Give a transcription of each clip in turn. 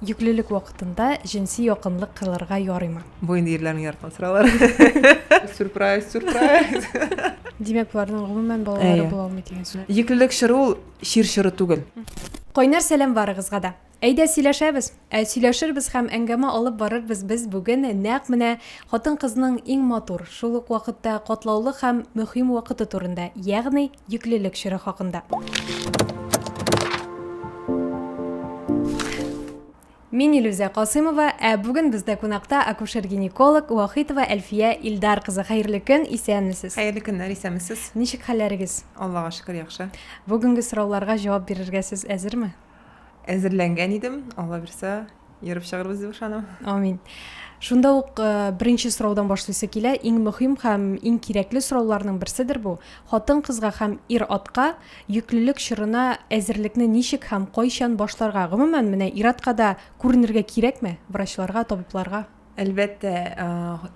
Йөклелек вакытында җенси якынлык кылырга ярыймы? Бу инде ирләрнең яраткан сораулары. Сюрприз, сюрприз. Димәк, боларның гомумән балалары була алмый дигән сүз. Йөклелек чоры ул чир чоры түгел. Кайнар сәлам барыгызга да. Әйдә сөйләшәбез. Ә сөйләшербез һәм әңгәмә алып барырбыз без бүген нәкъ менә хатын-кызның иң матур, шул ук вакытта катлаулы һәм мөһим вакыты турында, ягъни, Йөклелек чоры хакында. Мин Илүзә Касыймова, ә бүген бездә кунакта акушер-гинеколог Вахитова Әлфия Илдар кызы. Хәерле көн, исәнмесез? Хәерле көннәр, исәнмесез. Ничек хәлләрегез? Аллага шөкер, яхшы. Бүгенге сорауларга җавап бирергә сез әзерме? әзерләнгән идем алла бирсә ерып чыгарбыз дип ышанам амин шунда ук э, беренче сораудан башлыйсы килә иң мөһим һәм иң кирәкле сорауларның берседер бу хатын кызга һәм ир атка йөклелек чорына әзерлекне ничек һәм кайчан башларга гомумән менә ир атка да күренергә кирәкме врачларга табибларга Әлбәттә,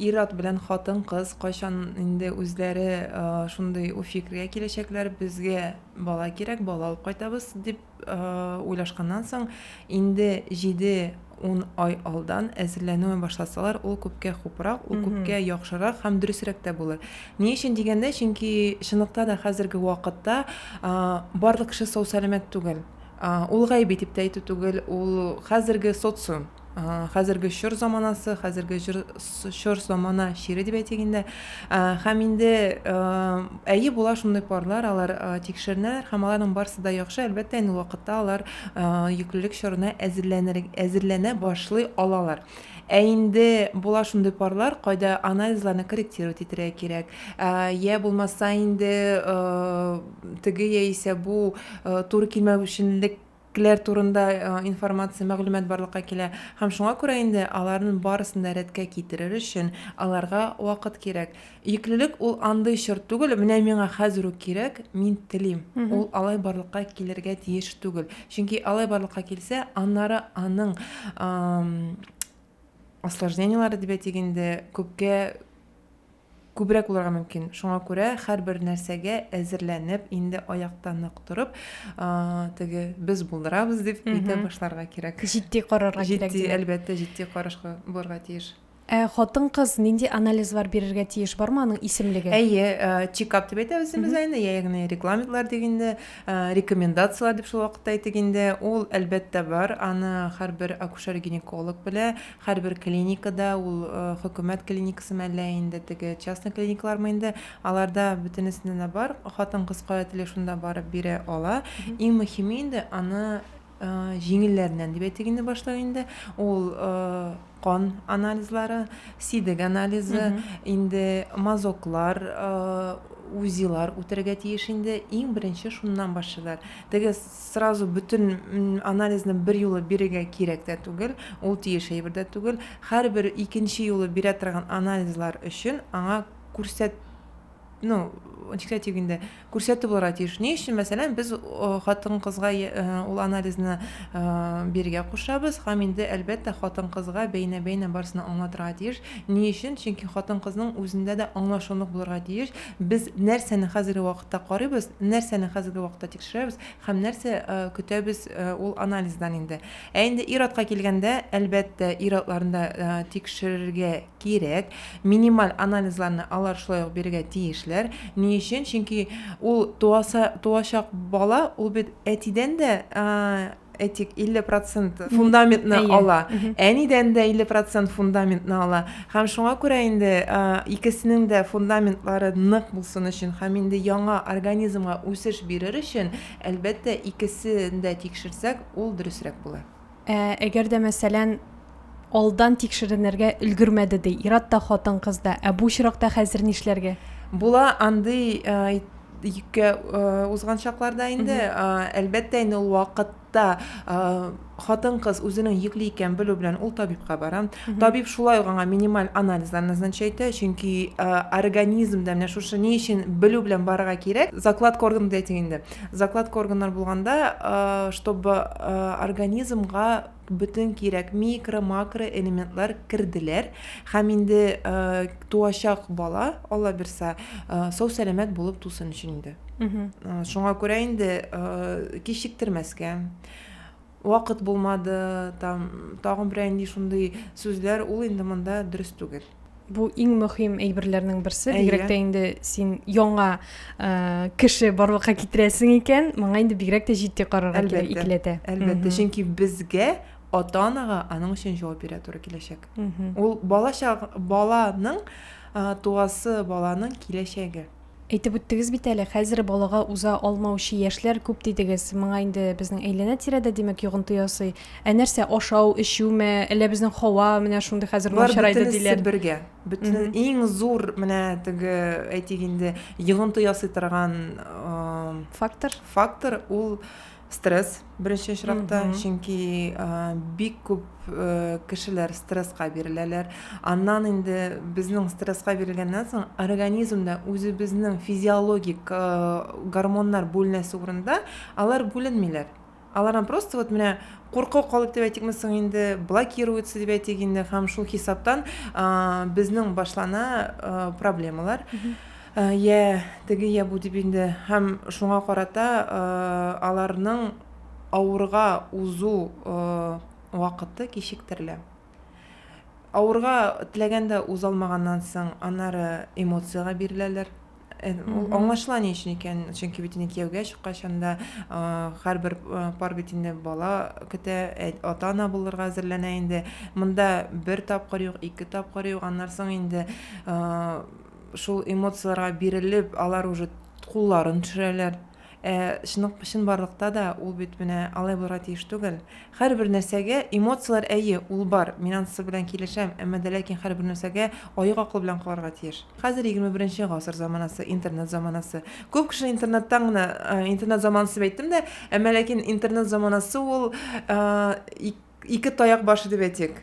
ир-ат белән хатын-кыз кайчан инде үзләре шундый фикергә киләчәкләр, безгә бала кирәк, бала алып кайтабыз, дип уйлашканнан соң, инде 7-10 ай алдан әзерләнүен башласалар, ул күпкә хупрак, ул күпкә яхшырак һәм дөресрәк тә булыр. Ни өчен дигәндә, чөнки чынлыкта да хәзерге вакытта барлык кеше сау-сәламәт түгел. Ул гаеп итеп тә әйтү түгел, ул хәзерге социум. хәзерге чор заманасы хәзерге чор замана чире дип әйтик инде һәм инде әйе була шундый парлар алар тикшеренәләр һәм аларның барысы да яхшы әлбәттә инде вакытта алар йөклелек чорына әзерләнер әзерләнә башлый алалар ә инде була шундый парлар кайда анализларны корректировать итәргә кирәк йә булмаса инде теге яисә бу туры килмәүчәнлек кләр турында информация, мәгълүмат барлыкка килә. Һәм шуңа күрә инде аларның барысын да рәткә китерер өчен аларга вакыт кирәк. Йөклелек ул андый чор түгел, менә миңа хәзер үк кирәк, мин телим. Ул алай барлыкка килергә тиеш түгел. Чөнки алай барлыкка килсә, аннары аның осложнениеләре дип әйтик инде, күпкә күбрәк булырга мөмкин. Шуңа күрә һәрбер нәрсәгә әзерләнеп, инде аякта нык торып, теге без булдырабыз дип әйтә башларга кирәк. Җитди карарга кирәк. Җитди, әлбәттә, җитди карашка булырга тиеш. Ә хатын-кыз нинди анализлар бирергә тиеш? Бармы аның исемлеге? Әйе, э, чекап дип әйтәбез без аны, ягъни регламентлар дип инде, э, рекомендацияләр дип шул вакытта әйтик инде. Ул әлбәттә бар, аны һәрбер акушер-гинеколог белә, Һәрбер клиникада, ул хөкүмәт клиникасымы әллә инде теге частный клиникалармы инде, аларда бөтенесендә дә бар, хатын-кыз кая тели шунда барып бирә ала. Иң мөһиме инде аны җиңелләреннән дип әйтик инде башлау инде, ул кан анализлары, сидек анализы, инде мазоклар, УЗИлар үтәргә тиеш инде, иң беренче шуннан башлыйлар. Теге Сразу бөтен анализны берьюлы бирергә кирәк тә түгел, ул тиеш әйбер дә түгел. Һәрбер икенче юлы бирә торган анализлар өчен аңа күрсәт, ну, ничек тә дип инде, күрсәтү булырга тиеш. Ни өчен, мәсәлән, без хатын-кызга ул анализны бирергә кушабыз һәм инде, әлбәттә, хатын-кызга бәйнә-бәйнә барысын аңлатырга тиеш. Ни өчен? Чөнки хатын-кызның үзендә дә аңлашылмык булырга тиеш. Без нәрсәне хәзерге вакытта карыйбыз, нәрсәне хәзерге вакытта тикшерәбез һәм нәрсә көтәбез ул анализдан инде. Ә инде ир-атка килгәндә, әлбәттә, ир-атларны да тикшерергә кирәк. Минималь анализларны алар шулай ук бирергә тиешләр. Ни өчен? Чөнки ул туачак бала, ул бит әтидән дә әйтик, 50 процент фундаментны ала, әнидән дә 50 процент фундаментны ала. Һәм шуңа күрә инде икесенең дә фундаментлары нык булсын өчен һәм инде яңа организмга үсеш бирер өчен, әлбәттә, икесен дә тикшерсәк, ул дөресрәк була. Ә әгәр дә, мәсәлән, алдан тикшеренергә өлгермәде, ди. Ират та, хатын-кыз да. Ә бу очракта хәзер нишләргә? Була андый йөккә узган чакларда инде. Әлбәттә инде ул вакытта хатын-кыз үзенең йөкле икәнен белү белән ул табибка бара. Табиб шулай ук аңа минималь анализлар назначать итә, чөнки организмда менә шушы ни өчен белү белән барырга кирәк. Закладка орган дип әйтик инде. Закладка органнар булганда, чтобы организмга бөтен кирәк микро, макро элементлар керделәр һәм инде туачак бала, Алла бирса, сау сәламәт булып тусын өчен инде. Шуңа күрә инде кичектермәскә вакыт булмады, там тагын берәр нинди шундый сүзләр ул инде монда дөрес түгел. бу иң мөһим әйберләрнең берсе бигрәк тә инде син яңа э, кеше барлыкка китерәсең икән моңа инде бигрәк тә җитди карарга кирәк икеләтә әлбәттә чөнки безгә ата анага аның өчен җавап бирә туры киләчәк ул бала баланың э, туасы баланың киләчәге Әйтеп үттегез бит әле, хәзер балага уза алмаучы яшьләр күп дидегез. Моңа инде безнең әйләнә-тирәдә, димәк, йогынты ясый. Ә нәрсә, ашау, эчүме, әллә безнең һава менә шундый хәзер Болар начарайды бөтенесе диләр? бергә. Бөтен Мгм. иң зур менә теге, әйтик инде, йогынты ясый торган э, Фактор? фактор ул Стресс беренче очракта, чөнки бик күп э, кешеләр стрессқа биреләләр. Аннан инде безнең стрессқа бирелгәннән соң организмда үзебезнең физиологик э, гормоннар бүленәсе урында алар бүленмиләр. Алардан просто вот менә курку калып дип әйтикме соң инде, блокируется дип әйтик инде һәм шул хисаптан безнең башлана э, проблемалар. Йә теге, йә бу дип инде, һәм шуңа карата аларның авырга узу вакыты кичектерелә. Авырга теләгәндә узалмаганнан соң, аннары эмоциягә биреләләр. Э, ул аңлашыла ни өчен икән чөнки бит инде кияүгә чыккач анда һәрбер пар бит инде бала көтә ә, ата ана булырга әзерләнә инде монда бер тапкыр юк ике тапкыр юк аннан соң инде шул эмоцияләргә бирелеп, алар уже кулларын төшерәләр. Ә чынлык чынбарлыкта да ул бит менә алай булырга тиеш түгел. Һәрбер нәрсәгә эмоцияләр әйе, ул бар, мин анысы белән килешәм, әмма дә ләкин һәрбер нәрсәгә аек акыл белән карарга тиеш. Хәзер егерме беренче гасыр заманасы, интернет заманасы. Күп кеше интернеттан гына, интернет заманасы дип әйттем дә, әмма ләкин интернет заманасы ул ике таяк башы дип әйтик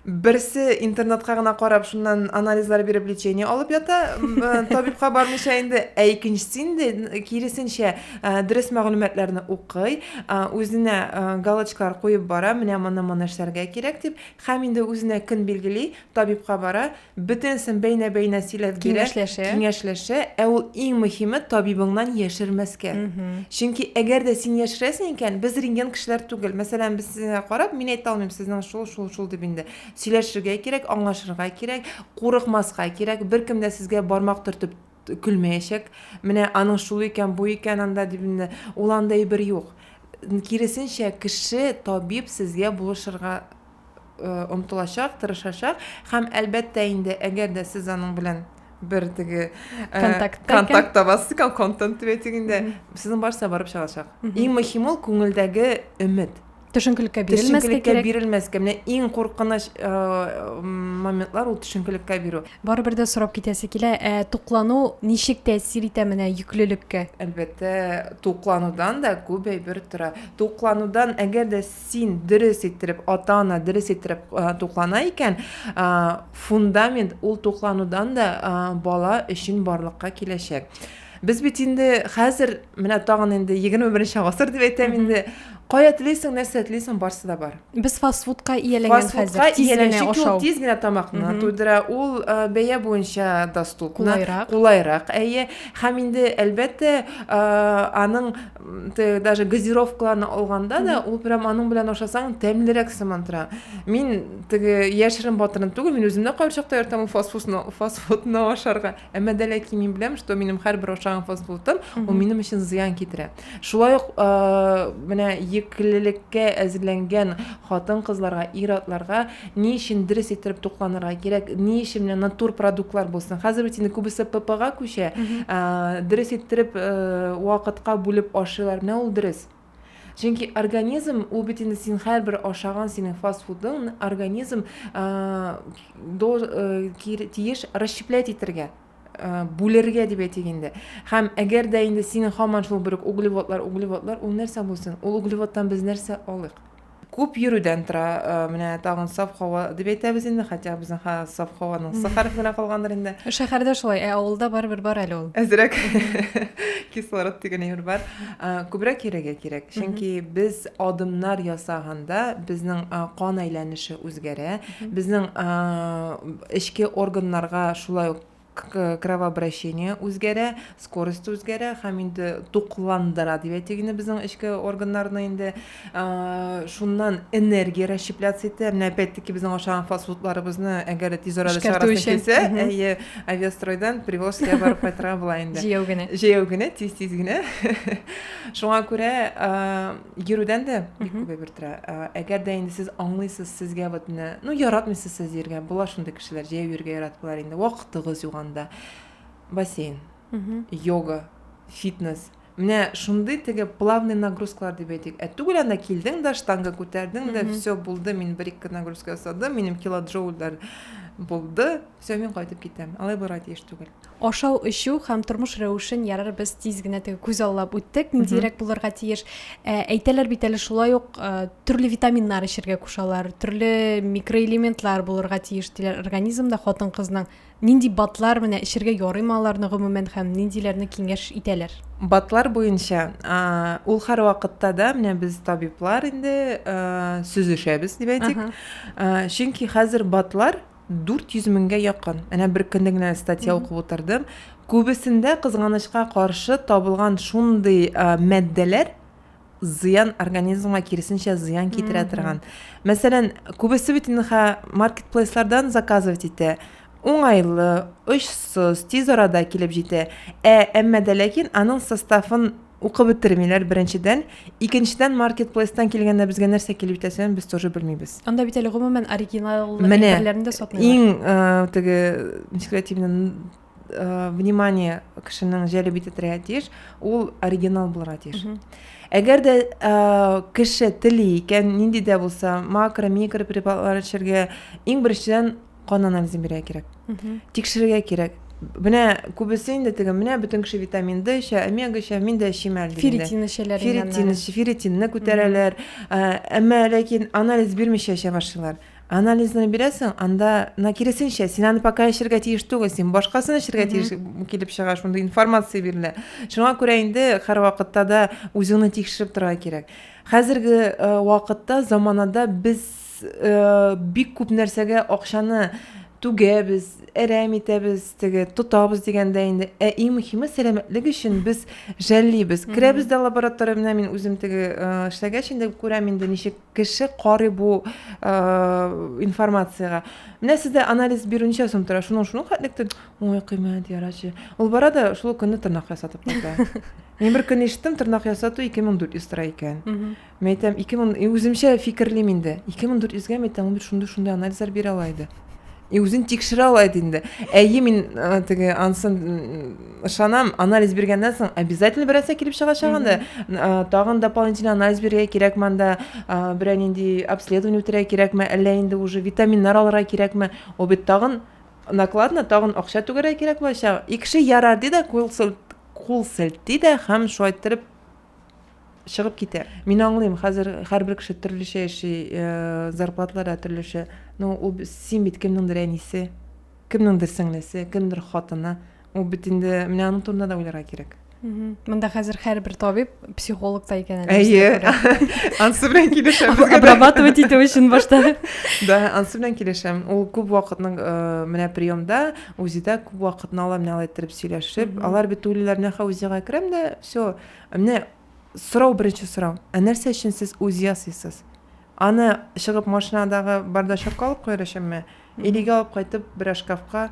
берсе интернетка гына карап шуннан анализлар биреп лечение алып ята э, табибка бармыйча инде ә икенчесе инде киресенчә э, дөрес мәгълүматларны укый э, үзенә галочкалар куеп бара менә моны моны эшләргә кирәк дип һәм инде үзенә көн билгели табибка бара Бөтенесен бәйнә-бәйнә сөйләп бирә, киңәшләшә. киңәшләшә, ә ул иң мөһиме табибыңнан яшермәскә. Чөнки әгәр дә син яшерәсең икән, без рентген кешеләр түгел. Мәсәлән, без сезгә карап, мин әйтә алмыйм, сезнең шул, шул, шул дип инде. Сөйләшергә кирәк, аңлашырга кирәк, курыкмаска кирәк, беркем дә сезгә бармак төртеп көлмәячәк, менә аның шул икән, бу икән анда дип инде, ул андай бер юк. Киресенчә, кеше, табиб сезгә булышырга омтылачак, тырышачак һәм әлбәттә инде, әгәр дә сез аның белән бер теге контакт контакт табасыз икән, контент дип әйтик инде, сезнең барса барып чыгачак. Иң мөһиме ул күңелдәге өмет. төшенкелеккә бирелмәскә төшенкелеккә кирәк. бирелмәскә менә иң куркыныч э, моментлар ул төшенкелеккә бирү барыбер дә сорап китәсе килә ә туклану ничек тәэсир итә менә йөклелеккә әлбәттә тукланудан да күп әйбер тора тукланудан әгәр дә син дөрес иттереп ата ана дөрес иттереп э, туклана икән э, фундамент ул тукланудан да э, бала өчен барлыкка киләчәк Без бит инде хәзер менә тагын инде 21 гасыр дип әйтәм инде. Кая телисең, нәрсә телисең, барсы да бар. Без фастфудка ияләнгән хәзер. Тиз генә ашау. Тиз генә тамакны туйдыра. Ул э, бәя буенча доступны. Кулайрак. Кулайрак, әйе. Һәм инде әлбәттә, э, аның даже газировкаларны алганда да, ул прям аның белән ашасаң тәмлерәк сыман тора. Мин теге яшерен батырын түгел, мин үзем дә кайчакта йөртәм фастфудны, фастфудны ашарга. Әмма дә ләкин мин беләм, что минем һәрбер ашаган фастфудым, ул минем өчен зыян китерә. Шулай ук менә еклелеккә әзерләнгән хатын-кызларга, ир-атларга ни өчен дөрес иттереп тукланырга кирәк, ни өчен менә натур продуктлар булсын. Хәзер бит инде күбесе ППга күчә. Дөрес иттереп вакытка бүлеп ашыйлар. Менә ул дөрес. Чөнки организм ул бит инде син һәрбер ашаган синең фастфудың организм до тиеш расщеплять итәргә бүлергә дип әйтик инде һәм әгәр дә инде синең һаман шул бер углеводлар углеводлар ул нәрсә булсын ул углеводтан без нәрсә алыйк Күп йөрүдән тора, менә тагын саф һава дип әйтәбез инде, хотя безнең ха саф һаваның сы хәрефе генә калгандыр инде. Шәһәрдә шулай, ә авылда барыбер бар әле ул. Әзрәк кислород дигән әйбер бар. Күбрәк йөрергә кирәк, чөнки без адымнар ясаганда безнең кан әйләнеше үзгәрә, безнең эчке органнарга шулай ук кровообращение үзгәрә, скорость үзгәрә һәм инде тукландыра дип әйтик инде безнең эчке органнарны инде. Шуннан энергия расщепляться итә. Менә опять-таки безнең ашаган фастфудларыбызны әгәр дә тиз арада чыгарасың килсә, әйе, авиастройдан привозкага барып кайтырга була инде. Җәяү генә. Җәяү генә, тиз-тиз генә. Шуңа күрә Йөрүдән дә бик күп әйбер тора. Әгәр дә инде сез аңлыйсыз, сезгә вот менә, ну, яратмыйсыз сез йөргән, була шундый кешеләр, җәяү йөргә яратмыйлар инде, вакытыгыз юк анда. Бассейн, йога, фитнес. Менә шундый теге плавный нагрузкалар дип әйтик. Ә түгел анда килдең дә, штанга күтәрдең дә, все булды, мин бер ике нагрузка ясадым, минем килоджоульлар булды, все, мин кайтып китәм. Алай булырга тиеш түгел. Ашау-эчү һәм тормыш рәвешен ярар без тиз генә теге күз аллап үттек, ниндирәк булырга тиеш. Ә, әйтәләр бит әле шулай ук ә, төрле витаминнар эчәргә кушалар, төрле микроэлементлар булырга тиеш диләр организмда хатын-кызның. Нинди батлар менә эчәргә ярыймы аларны гомумән һәм ниндиләрне киңәш итәләр? Батлар буенча, ә, ул һәрвакытта да менә без табиблар инде, ә, сүзешәбез дип әйтик. Ә, чөнки хәзер батлар 400 меңгә якын. Әнә беркөнне генә статья укып утырдым. Күбесендә, кызганычка каршы, табылган шундый матдәләр зыян организмга киресенчә зыян китерә торган. Мәсәлән, күбесе бит инде маркетплейслардан заказывать итә. Уңайлы, очсыз, тиз арада килеп җитә. Ә әмма дә ләкин аның составын Укып бетермиләр, беренчедән. Икенчедән, маркетплейстан килгәндә безгә нәрсә килеп җитәсен без тоже белмибез. Анда бит әле гомумән оригинал әйберләрне дә сатмыйлар. Менә иң э, теге, ничек әйтим инде, э, внимание кешенең җәлеп итә торырга тиеш, ул оригинал булырга тиеш. Әгәр дә э, кеше тели икән, нинди дә булса, макро, микро препаратлар эчәргә, иң беренчедән кан анализын бирергә кирәк тикшерергә кирәк менә күбесе инде теге менә бөтен кеше витамин д эчә омега эчә мин дә эчим әле ферритин эчәләр ферритин ферритинны күтәрәләр әмма ләкин анализ бирмичә эчә башлыйлар анализны бирәсең анда на киресенчә син аны пока эчәргә тиеш түгел син башкасын эчәргә тиеш килеп чыга шундый информация бирелә шуңа күрә инде һәрвакытта да үзеңне тикшереп торырга кирәк хәзерге вакытта заманада без бик күп нәрсәгә акчаны түгәбез, әрәм итәбез, теге тотабыз дигәндә инде. Ә иң мөһиме сәламәтлек өчен без жәллибез. Керәбез дә лаборатория менә мин үзем теге эшләгәч инде күрәм инде ничек кеше карый бу информациягә. Менә сездә анализ бирү ничә сум тора? Шуның шуның хәтлектер. Ой, кыйммәт ярачы. Ул бара да шул көнне тырнак ясатып кайта. Мин бер көн ишеттем, тырнак ясату 2400 тора икән. Мин әйтәм, 2000, и үземчә фикерлим инде. 2400 гә әйтәм, ул бит шундый шундый анализлар бирә ала иде. И үзен тикшерә ала иде инде. Әйе, мин э, теге ансын ышанам, анализ биргәннән соң обязательно берәрсә килеп чыгачак анда. Э, Тагын дополнительно анализ бирергә кирәкме анда, э, берәр нинди обследование үтәргә кирәкме, әллә инде уже витаминнар алырга кирәкме? Ул бит тагын накладно, тагын акча түгәргә кирәк булачак. И кеше ярар ди дә, кул сел- кул селти дә һәм шулай иттереп чыгып китә. Мин аңлыйм, хәзер һәрбер кеше төрлечә яши, э, зарплаталар да төрлечә. Ну, ул син бит кемнеңдер әнисе, кемнеңдер сеңлесе, кемдер хатыны. Ул бит инде менә аның турында да уйларга кирәк. Монда хәзер һәрбер табиб психолог та икән әле. Әйе. Ансы белән килешәм. Обрабатывать итү өчен башта. Да, ансы белән килешәм. Ул күп вакытның э, менә приемда, УЗИда күп вакытны ала, менә алай иттереп сөйләшеп. Алар бит уйлыйлар, менә ха УЗИга керәм дә, Всё. Менә сорау, беренче сорау. Ә нәрсә өчен сез УЗИ ясыйсыз? Аны чыгып машинадагы бардачокка алып куяр өченме? Или өйгә алып кайтып берәр шкафка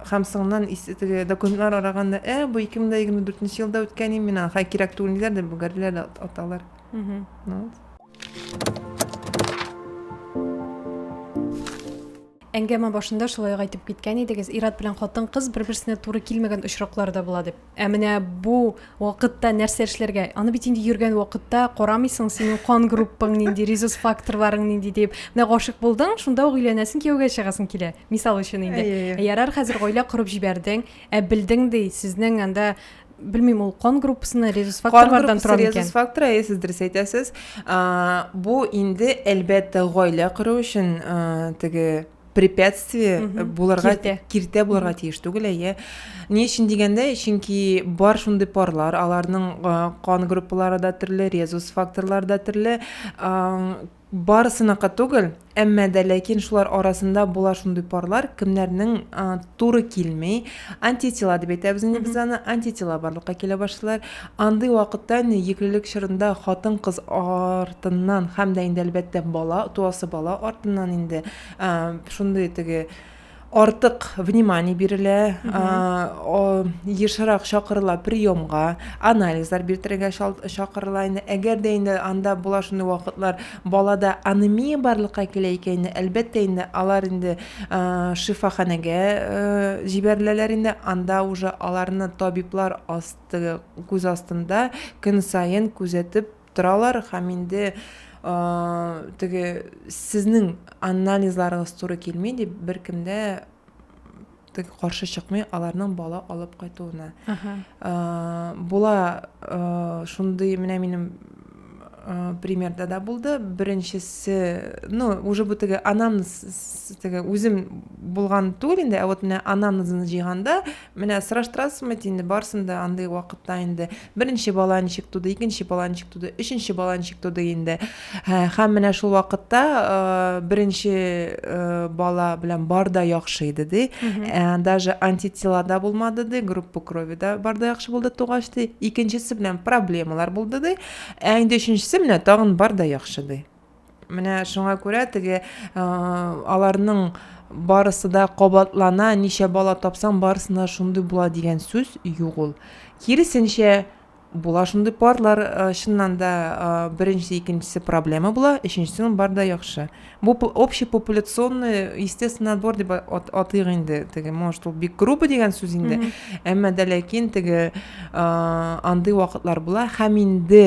һәм соңыннан ис теге документлар араганда, ә, бу 2024 елда үткән ин мин аны, хәер, кирәк түгел диләр дә бөгәрлиләр дә аталар. Ну вот. Әңгәмә башында шулай ук әйтеп киткән идегез, ир-ат белән хатын-кыз бер-берсенә туры килмәгән очраклар да була дип. Ә менә бу вакытта нәрсә эшләргә? Аны бит инде йөргән вакытта карамыйсың, синең кан группаң нинди, резус факторларың нинди дип. Менә гашык булдың, шунда ук өйләнәсең, кияүгә чыгасың килә. Мисал өчен инде. Әйе, әйе. Ярар, хәзер гаилә корып җибәрдең, ә белдең ди, сезнең анда белмим ул кан группасына резус факторлардан тора микән резус фактор әйе сез дөрес әйтәсез бу инде әлбәттә гаилә кору өчен теге препятствие булырга киртә булырга тиеш түгел әйе ни өчен дигәндә чөнки бар шундый парлар аларның кан группалары да төрле резус факторлары да төрле Барысыныкы түгел, әмма дә ләкин шулар арасында була шундый парлар, кемнәрнең туры килми, антитела дип әйтәбез инде без аны, антитела барлыкка килә башлыйлар. Андый вакытта инде йөклелек чорында хатын-кыз артыннан һәм дә инде әлбәттә бала, туасы бала артыннан инде шундый теге артык внимание бирелә, ешрак чакырыла приемга, анализлар биртерергә чакырыла инде. Әгәр дә инде анда була шундый вакытлар, балада анемия барлыкка килә икән инде, әлбәттә инде алар инде шифаханәгә җибәреләләр инде, анда уже аларны табиблар асты, күз астында көн саен күзәтеп торалар һәм инде теге сезнең анализларыгыз туры килми дип беркемдә теге каршы чыкмый аларның бала алып кайтуына була шундый менә минем примерда да булды беренчесе ну уже бу теге анамнез теге үзем булган түгел инде ә вот менә анамнезны җыйганда менә сораштырасызмы инде барысын да андый вакытта инде Беренче бала ничек туды, икенче бала ничек туды, өченче бала ничек туды инде. Һәм менә шул вакытта э, беренче э, бала белән бар да яхшы иде ди. Э, даже антитела да булмады ди, группа крови да бар да яхшы булды тугач ди. Икенчесе белән проблемалар булды ди. Ә инде өченчесе менә тагын бар да яхшы ди. Менә шуңа күрә теге аларның барысы да кабатлана, ничә бала тапсаң, барысына шундый була дигән сүз юк ул. Киресенчә, була шундый парлар, чыннан да беренчесе, икенчесе проблема була, өченчесенең бар да яхшы. Бу общепопуляционный естественный отбор дип атыйк инде. Теге, может, ул бик грубо дигән сүз инде, әмма дә ләкин теге андый вакытлар була һәм инде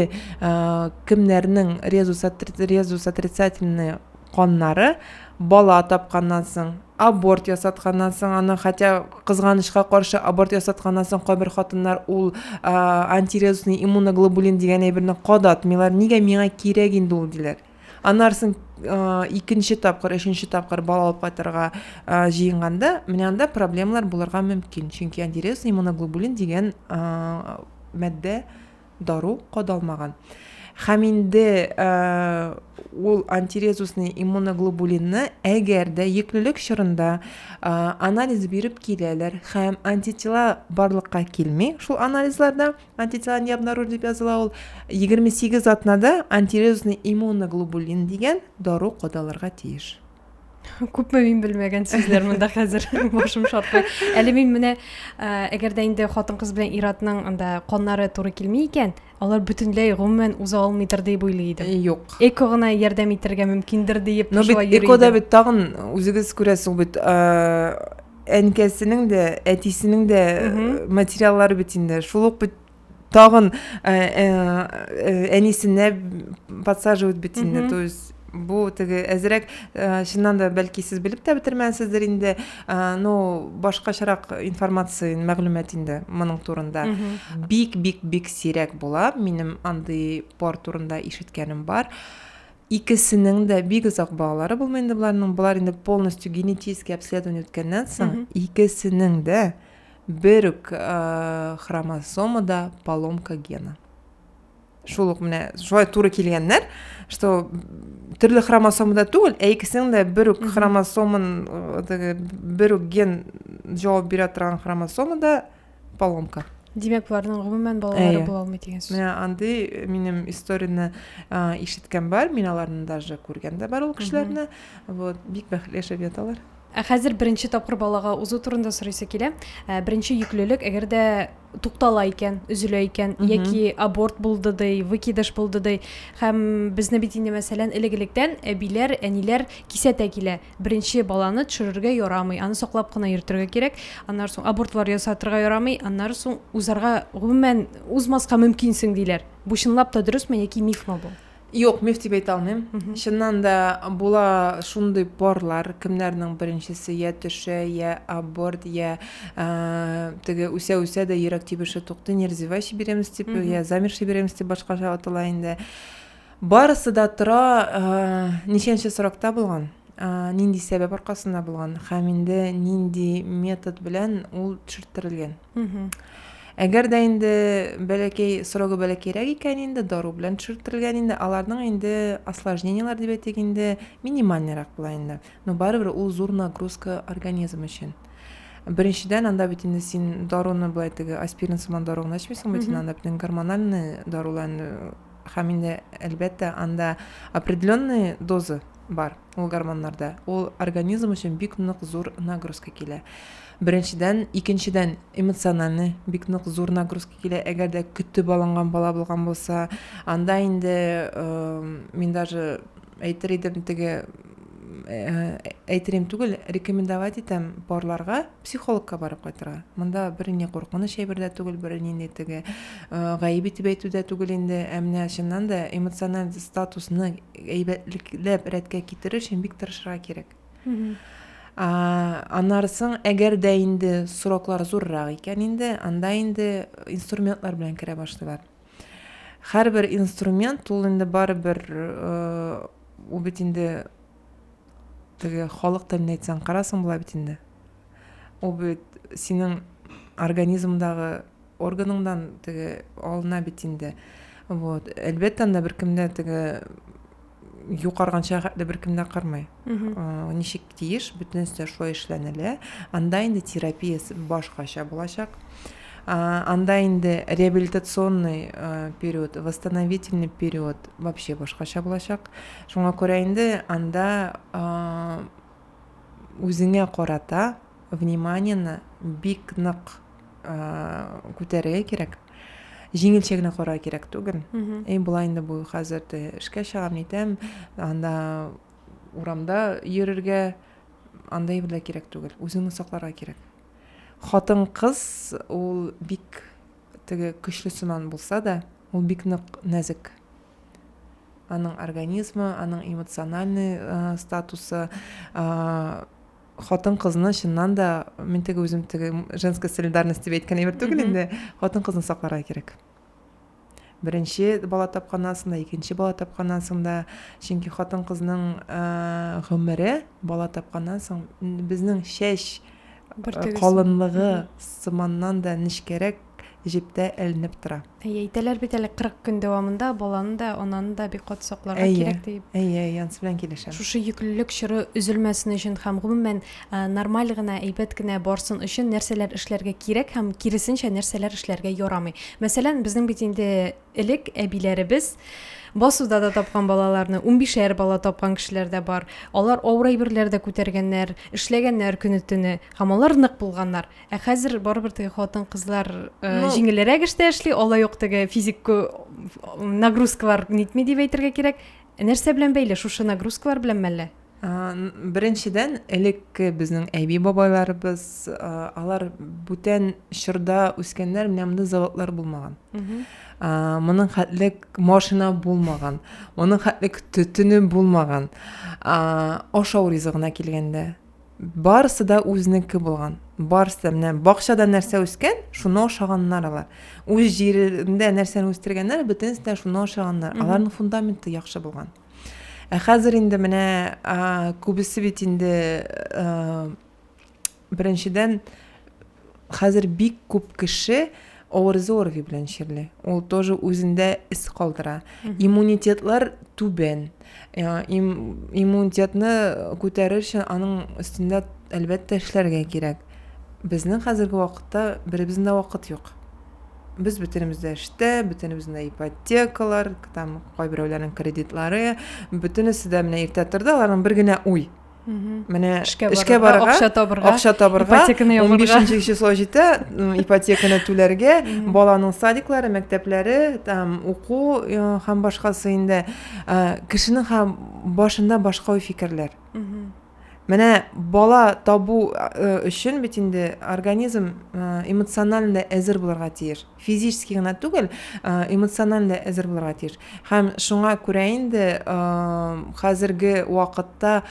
кемнәрнең резус резус отрицательный каннары бала тапканнан соң аборт ясатканнан соң аны хотя кызганычка каршы аборт ясатканнан соң кайбер хатыннар ул антирезусный иммуноглобулин дигән әйберне кадатмыйлар нигә миңа кирәк инде ул диләр анарсын икенче тапкыр өченче тапкыр бала алып кайтырга җыенганда менә анда проблемалар булырга мөмкин чөнки андиреус иммуноглобулин дигән матдә дару кадалмаган һәм инде ул антирезусный иммуноглобулинны әгәр дә йөклелек чорында анализ биреп киләләр һәм антитела барлыкка килми шул анализларда Антитела не обнаружили, дип языла ул. 28 атнада антирезусный иммуноглобулин дигән дару кодаларга тиеш. күпме мин белмәгән сүзләр монда хәзер башым шартлый әле мин менә әгәр дә инде хатын кыз белән иратның анда каннары туры килми икән алар бөтенләй гомумән уза алмыйдыр дип уйлый идем юк эко гына ярдәм итәргә мөмкиндер диеп но бит экода бит тагын үзегез күрәсез бит әнкәсенең дә әтисенең дә материаллары бит инде шул ук бит тагын э, э, э, әнисенә подсаживать бит инде то есть бу теге әзерәк чыннан да бәлки сез белеп тә бетермәнсездер инде но башкачарак информация мәгълүмат инде моның турында бик бик бик сирәк була минем андый пар турында ишеткәнем бар Икесенең дә бик озак балалары булмый инде боларның. Болар инде полностью генетический обследование үткәннән соң, икесенең дә бер үк э, хромосомада поломка гена. Шул ук менә шулай туры килгәннәр, что төрле хромосомада түгел, ә икесенең дә бер үк хромосомын, э, теге, бер үк ген җавап бирә торган хромосомада поломка димәк болардың гомумән балалары була алмый дигән сүз менә андый э, минем историяны э, ишеткән бар мин аларны даже күргән дә бар ул кешеләрне вот бик бәхетле яшәп яталар ә хәзер беренче тапкыр балага узу турында сорыйсы килә ә, беренче йөклелек әгәр дә туктала икән өзелә икән яки аборт булды ди выкидыш булды ди һәм безне бит инде мәсәлән элек электән әбиләр әниләр кисәтә килә Беренче баланы төшерергә ярамый, аны саклап кына йөртергә кирәк, аннары соң абортлар ясатырга ярамый, аннары соң узарга гомумән узмаска мөмкинсең диләр. Бу чынлап та дөресме яки мифмы бу? Юк, миф дип әйтә алмыйм. Чыннан да була шундый парлар, кемнәрнең беренчесе я төшә, я аборт, я теге үсә-үсә дә йөрәк тибеше туктый, неразвивающий беременность дип, я замерший беременность дип башкача атала инде. Барысы да тора, ничәнче срокта булган, нинди сәбәп аркасында булган һәм инде нинди метод белән ул төшерттерелгән. Әгәр дә инде бәләкәй срогы бәләкәйрәк икән инде дару белән төшерттерелгән инде, аларның инде осложнениеләр дип әйтик инде минимальныйрак була инде. Но барыбер ул зур нагрузка организм өчен. Беренчедән анда бит инде син даруны былай теге аспирин сыман дару гына эчмисең бит, анда бит гормональный дарулар Һәм инде, әлбәттә, анда определенный доза бар ул гормоннарда. Ул организм өчен бик нык зур нагрузка килә. Беренчедән, икенчедән, эмоциональный бик нык зур нагрузка килә. Әгәр дә көтеп алынган бала булган булса, анда инде э, мин даже әйтер идем, теге Э, әйтерем түгел, рекомендовать итәм парларга психологка барып кайтырга. Монда бер ни куркыныч әйбер дә түгел, бер нинди теге э, гаеп итеп әйтү дә түгел инде. Ә менә чыннан да эмоциональ статусны әйбәтлекләп рәткә китерер өчен бик тырышырга кирәк. Анарсың, әгәр дә инде сроклар зуррак икән инде, анда инде инструментлар белән керә башлыйлар. Һәрбер инструмент ул инде барыбер ул бит инде теге халык теленә әйтсәң карасың була бит инде. Ул бит синең организмдагы органыңдан теге алына бит инде. Вот. Әлбәттә, анда беркемдә теге юк арганча хәтле беркем дә кырмый ничек тиеш бөтенесе дә шулай эшләнелә анда инде терапиясе башкача булачак анда инде реабилитационный период восстановительный период вообще башкача булачак шуңа күрә инде анда үзеңә карата вниманиены бик нык күтәрергә кирәк җиңелчә генә карарга кирәк түгел и болай инде бу хәзер дә эшкә чыгам нитәм анда урамда йөрергә андай бер кирәк түгел үзеңне сакларга кирәк хатын кыз ул бик теге көчле сыман булса да ул бик нык нәзек аның организмы аның эмоциональный э, статусы э, хатын-кызны чыннан да мин теге үзем теге женская солидарность дип әйткән әйбер түгел инде хатын-кызны сакларга кирәк беренче бала тапкан анасында икенче бала тапкан анасында чөнки хатын кызның ә, гомере бала тапканнан соң безнең чәч калынлыгы сыманнан да нечкәрәк җептә эленеп тора. Әйе, әйтәләр бит әле 40 көн дәвамында баланы да, ананы да бик каты сакларга кирәк диеп. Әйе, әйе, ансы белән килешәм. Шушы йөклелек чоры өзелмәсен өчен һәм гомумән нормаль гына, әйбәт кенә барсын өчен нәрсәләр эшләргә кирәк һәм киресенчә нәрсәләр эшләргә ярамый. Мәсәлән, безнең бит инде элек әбиләребез басуда да тапкан балаларны, унбишәр бала тапкан кешеләр дә бар. Алар авыр әйберләр дә күтәргәннәр, эшләгәннәр көне-төне һәм алар нык булганнар. Ә хәзер барыбер теге хатын-кызлар э, ну, җиңелрәк эштә эшли, алай юк теге физик нагрузкалар нитми дип әйтергә кирәк. Ә нәрсә белән бәйле? Шушы нагрузкалар белән мәллә? Беренчедән, элекке безнең әби бабайларыбыз, алар бүтән чорда үскәннәр, менә монда заводлар булмаган. Моның хәтле машина булмаган, моның хәтле төтене булмаган. Ашау ризыгына килгәндә, Барысы да үзенеке булган. Барысы да менә бакчада нәрсә үскән, шуны ашаганнар алар. Үз җирендә нәрсәне үстергәннәр, бөтенесе дә шуны ашаганнар. Аларның фундаменты яхшы булган. Ә хәзер инде менә күбесе бит инде беренчедән Хәзер бик күп кеше авырызы орви белән чирли. Ул тоже үзендә эз калдыра. Иммунитетлар түбән. Им, иммунитетны күтәрер өчен аның өстендә әлбәттә эшләргә кирәк. Безнең хәзерге вакытта беребезнең дә вакыт юк. Без бөтенебез дә эштә, бөтенебез дә ипотекалар, там кайберәүләрнең кредитлары, бөтенесе дә менә иртә торды, аларның бер генә уй, менә эшкә барырга акча табырга акча табырга он бишенче число җитә ипотеканы түләргә баланың садиклары мәктәпләре там уку һәм башкасы инде кешенең һәм башында башка фикерләр менә бала табу өчен бит инде организм эмоционально әзер булырга тиеш физически гына түгел, эмоциональ дә әзер булырга тиеш. Һәм шуңа күрә инде хәзерге вакытта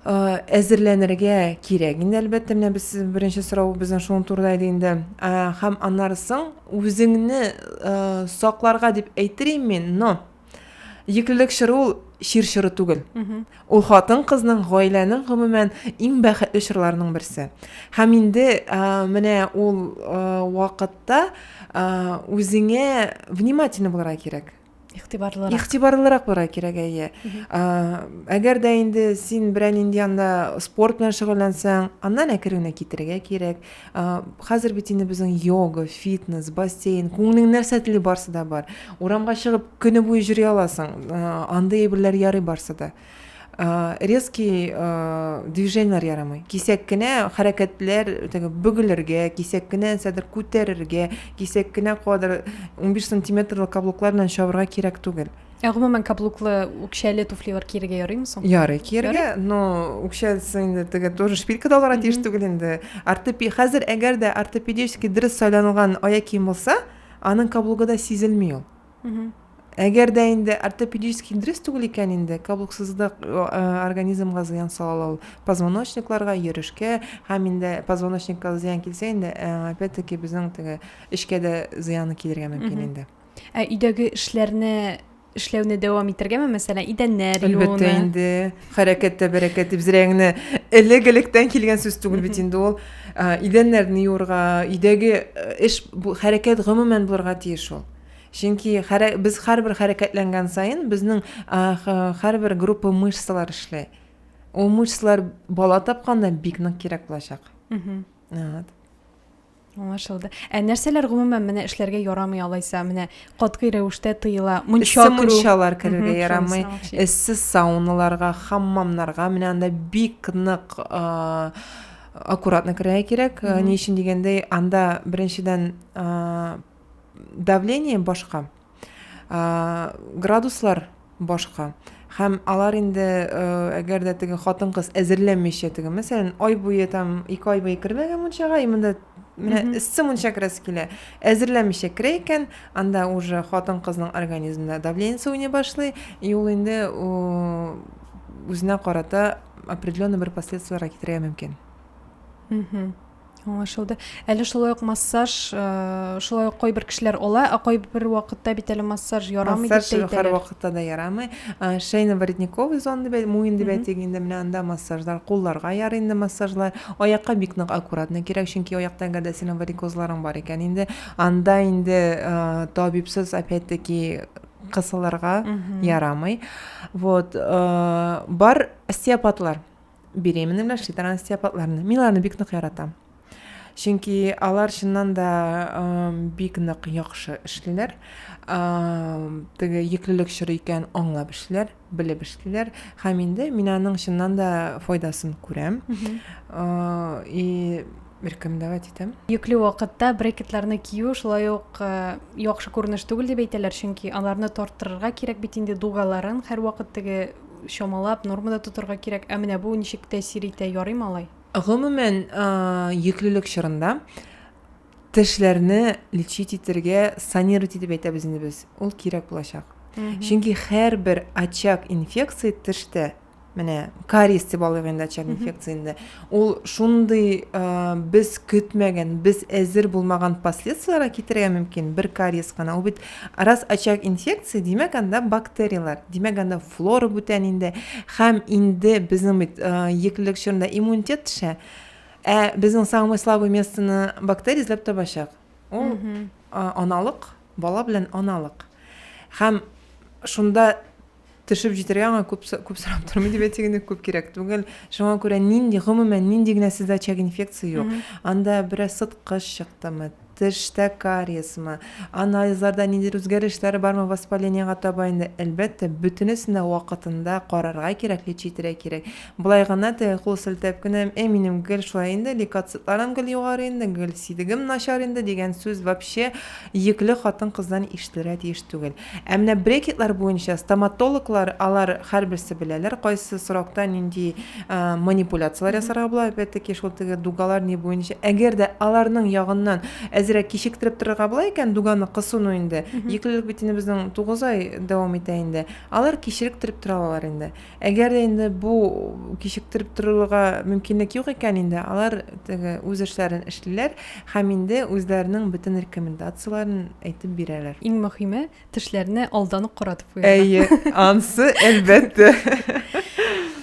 әзерләнергә кирәк. Инде әлбәттә менә без беренче сорау безнең шуның турында иде инде. Һәм аннары соң үзеңне сакларга дип әйтер мин, но Йөклелек чоры ул чир чоры түгел. Ул хатын кызның гаиләнең гомумән иң бәхетле чорларының берсе. Һәм инде менә ул вакытта үзеңә внимательно булырга кирәк. Игътибарлырак. Игътибарлырак булырга кирәк, әйе. Әгәр дә инде син берәр нинди анда спорт белән шөгыльләнсәң, аннан әкрен генә китәргә кирәк. хәзер бит инде безнең йога фитнес бассейн күңелең нәрсә тели барсы да бар урамга чыгып көне буе йөри аласың андый әйберләр ярый барсы да резкий движениеләр ярамый кисәк кенә хәрәкәтләр теге бөгелергә кисәк кенә нәрсәдер күтәрергә кисәк кенә кадәр унбиш сантиметрлы каблуклар белән чабырга кирәк түгел Ә гомумән каблуклы үкчәле туфлилар киергә ярыймы соң? Ярый киергә, но үкчәлесе инде теге тоже шпилька да алырга тиеш түгел инде. Ортопи хәзер әгәр дә ортопедически дөрес сайланылган аяк кием булса, аның каблугы да сизелми ул. Әгәр дә инде ортопедически дөрес түгел икән инде, каблуксызлык организмга зыян сала ул. Позвоночникларга, йөрешкә һәм инде позвоночникка зыян килсә инде, опять-таки безнең теге эчкә дә зыяны килергә мөмкин инде. Ә өйдәге эшләрне эшләүне дәвам итәргәме, мәсәлән, идәннәр юуны? Әлбәттә инде. Хәрәкәттә бәрәкәт дип зрәңне элек-электән килгән сүз түгел бит инде ул. Идәннәрне юырга, өйдәге э, эш бу хәрәкәт гомумән булырга тиеш ул. Чөнки хәрә, без һәрбер хәрәкәтләнгән саен безнең һәрбер группа мышцалар эшли. Ул мышцалар бала тапканда бик нык кирәк булачак. Угу. Вот. Аңлашылды. Ә нәрсәләр гомумән менә эшләргә ярамый алайса, менә катгый рәвештә тыела? Мунча керү. Мунчалар керергә ярамый. Эссе сауналарга, хаммамнарга менә анда бик нык аккуратно керергә кирәк. Ни өчен дигәндә, анда беренчедән давление башка. градуслар башка һәм алар инде әгәр дә теге хатын кыз әзерләмичә теге мәсәлән ай буе там ике ай буе кермәгән мунчага и монда менә эссе мунча керәсе килә әзерләмичә керә икән анда уже хатын кызның организмында давлениесе уйный башлый и ул инде үзенә карата определенный бер последствиеләргә китерергә мөмкин Аңлашылды. Әле шулай ук массаж, э, шулай ук кайбер кешеләр ала, а кайбер вакытта бит әле массаж ярамый дип Массаж һәр вакытта да ярамый. Э, Шейно-воротниковый зон дип әйтә, муен дип әйтик инде менә анда массажлар, кулларга ярый инде массажлар, аякка бик нык аккуратно кирәк, чөнки аякта әгәр дә синең варикозларың бар икән инде, анда инде э, табибсыз опять-таки кысылырга ярамый. Вот, э, бар остеопатлар. беременный белән шли транстиопатларны мин аларны бик нык яратам чөнки алар чыннан да бик нык яхшы эшлиләр теге йөклелек чоры икән аңлап эшлиләр белеп эшлиләр һәм инде мин аның чыннан да файдасын күрәм и беркем давай әйтәм йөкле вакытта брекетларны кию шулай ук яхшы күренеш түгел дип әйтәләр чөнки аларны тарттырырга кирәк бит инде дугаларын һәрвакыт теге чамалап, нормада тотарга кирәк. Ә менә бу ничек тәэсир итә, ярыймы алай? Гомумән, йөклелек чорында тешләрне лечить итәргә, санировать итеп әйтәбез инде без. Ул кирәк булачак. Чөнки һәрбер очаг инфекции тештә менә кариес дип алыйк инде очаг инфекциясендә ул шундый ә, без көтмәгән без әзер булмаган последствиеләргә китерергә мөмкин бер кариес кына ул бит Ә раз очаг инфекция, димәк анда бактерияләр, димәк анда флора бүтән инде. Хәм инде безнең бит еклелек чорында иммунитет төшә. Ә безнең самый слабый местоны бактерия эзләп табачак. Ул аналык, бала белән аналык. Хәм шунда Төшеп җитәргә аңа күп күп сорап тормый дип әйтсәк инде күп кирәк түгел. Шуңа күрә нинди гомумән нинди генә сездә очаг инфекция юк. Анда бераз сыткыч чыктымы, тештә кариесмы, анализларда ниндидер үзгәрешләр бармы воспалениегә таба инде. Әлбәттә, бөтенесен дә вакытында карарга кирәк, лечь итәргә кирәк. Болай гына теге кул селтәп кенә, әй минем гел шулай инде, лейкоцитларым гел югары инде, гел сидегем начар инде дигән сүз вообще йөкле хатын-кыздан ишетелергә тиеш түгел. Ә менә брекетлар буенча стоматологлар, алар һәрберсе беләләр, кайсы срокта нинди манипуляцияләр ясарга була, опять-таки шул теге дугалар ни буенча. Әгәр дә аларның ягыннан әзерәк кичектереп торырга була икән, дуганы кысыну инде, йөклелек бит инде безнең 9 ай дәвам итә инде, алар кичеректереп тора алалар инде. Әгәр дә инде бу кичектереп торырга мөмкинлек юк икән инде, алар теге үз эшләрен эшлиләр һәм инде үзләренең бөтен рекомендацияләрен әйтеп бирәләр. Иң мөхиме, тешләрне алдан ук каратып куярга. Әйе, ансы әлбәттә.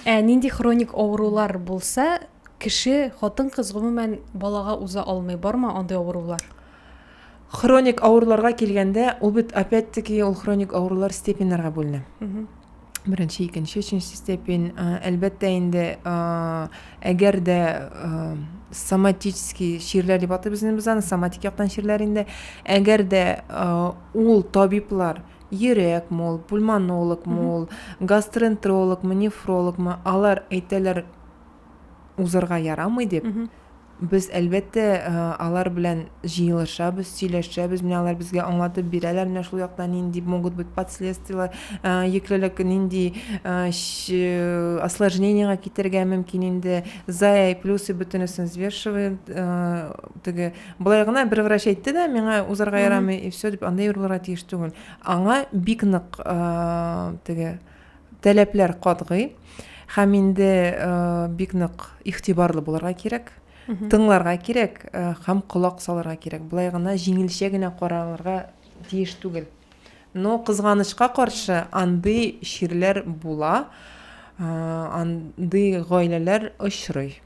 Ә нинди хроник авырулар булса, кеше, хатын-кыз гомумән балага уза алмый, бармы андый авырулар? Хроник авыруларга килгәндә, ул бит опять-таки ул хроник авырулар степеньнәргә бүленә. беренче икенче өченче степень әлбәттә инде әгәр дә соматический чирләр дип атыйбыз инде без аны соматик яктан чирләр инде әгәр дә ул табиблар йөрәк мул пульмонолог мул гастроэнтерологмы нефрологмы алар әйтәләр узырга ярамый дип, без әлбәттә алар белән җыелышабыз, сөйләшәбез, менә алар безгә аңлатып бирәләр, менә шул якта нинди могут быть последствия, йөклелек нинди осложнениега китергә мөмкин инде, зая и плюсы бөтенесен взвешивает, теге болай гына бер врач әйтте дә, миңа узарга ярамый и все дип анда юрылырга тиеш түгел. Аңа бик нык теге Таләпләр катгый һәм инде бик нык игътибарлы булырга кирәк, тыңларга кирәк һәм колак салырга кирәк. Болай гына җиңелчә генә каралырга тиеш түгел. Но кызганычка каршы андый чирләр була, андый гаиләләр очрый.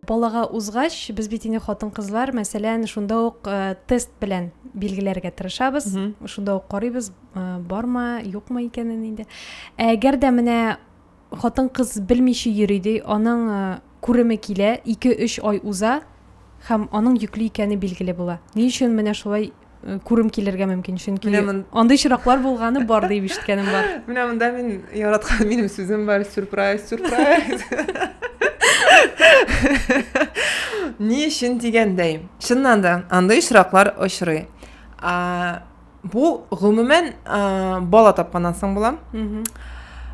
Балага узгач, без бит инде хатын-кызлар, мәсәлән, шунда ук э, тест белән билгеләргә тырышабыз. Шунда ук карыйбыз, э, барма, юкмы икәнен инде. Әгәр дә менә хатын-кыз белмичә йөри ди, аның э, күреме килә, 2-3 ай уза һәм аның йөкле икәне билгеле була. Ни өчен менә шулай күрем килергә мөмкин чөнки андый очраклар булганы бар дип ишеткәнем бар менә монда мин яраткан минем сүзем бар сюрприз сюрприз ни өчен дигәндәй чыннан да андый очраклар очрый бу гомумән бала тапканнан соң була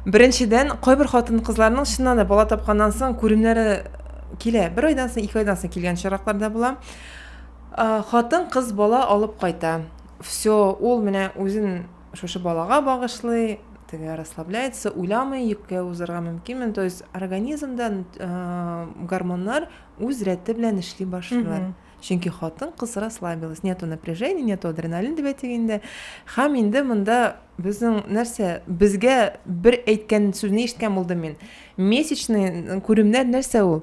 беренчедән кайбер хатын кызларның чыннан да бала тапканнан соң күремнәре килә бер айдан соң ике айдан соң килгән очраклар да була Хатын кыз бала алып кайта. Всё, ул менә үзен шушы балага багышлый, теге расслабляется, уйламый, йөккә узарга мөмкинмен. То есть организмда гормоннар үз рәте белән эшли башлыйлар. Чөнки хатын кыз расслабилась, нету напряжения, нету адреналин дип әйтик инде. Хәм инде монда безнең нәрсә, безгә бер әйткән сүзне ишеткән булдым мин. Месячный күремнәр нәрсә ул?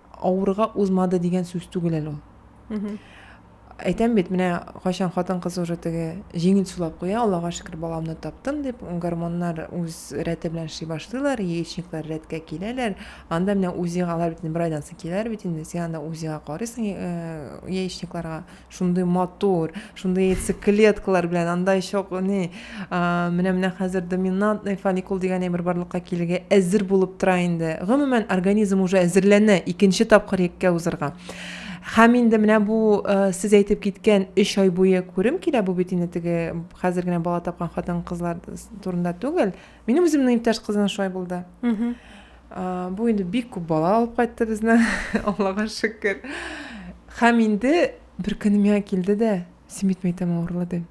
авырга узмады дигән сүз түгел әле ул. Әйтәм бит, менә кайчан хатын-кыз уже теге җиңел сулап куя, Аллага шөкер, баламны таптым дип, гормоннар үз рәте белән эшли башлыйлар, яичниклар рәткә киләләр. Анда менә УЗИга алар бит бер айдан соң киләләр бит инде, син анда УЗИга карыйсың э, яичникларга, Шундый матур, шундый яйцеклеткалар белән, анда еще ни, менә менә хәзер доминантный фолликул дигән әйбер барлыкка килергә әзер булып тора инде. Гомумән, организм уже әзерләнә икенче тапкыр еккә узырга. Һәм инде менә бу э, сез әйтеп киткән 3 ай буе күрем килә, бу бит инде теге хәзер генә бала тапкан хатын-кызлар турында түгел. Минем үземнең иптәш кызына шулай булды. Бу инде бик күп бала алып кайтты безне, Аллага шөкер. Хәм инде бер көнем миңа килде дә, син бит мәйтәм авырлады.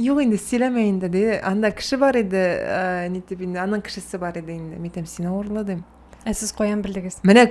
Юк инде, сөйләмә инде, ди. Анда кеше бар иде, ә, нитеп инде, аның кешесе бар иде инде. Мәйтәм, син авырлады. Ә сез каян белдегез? Менә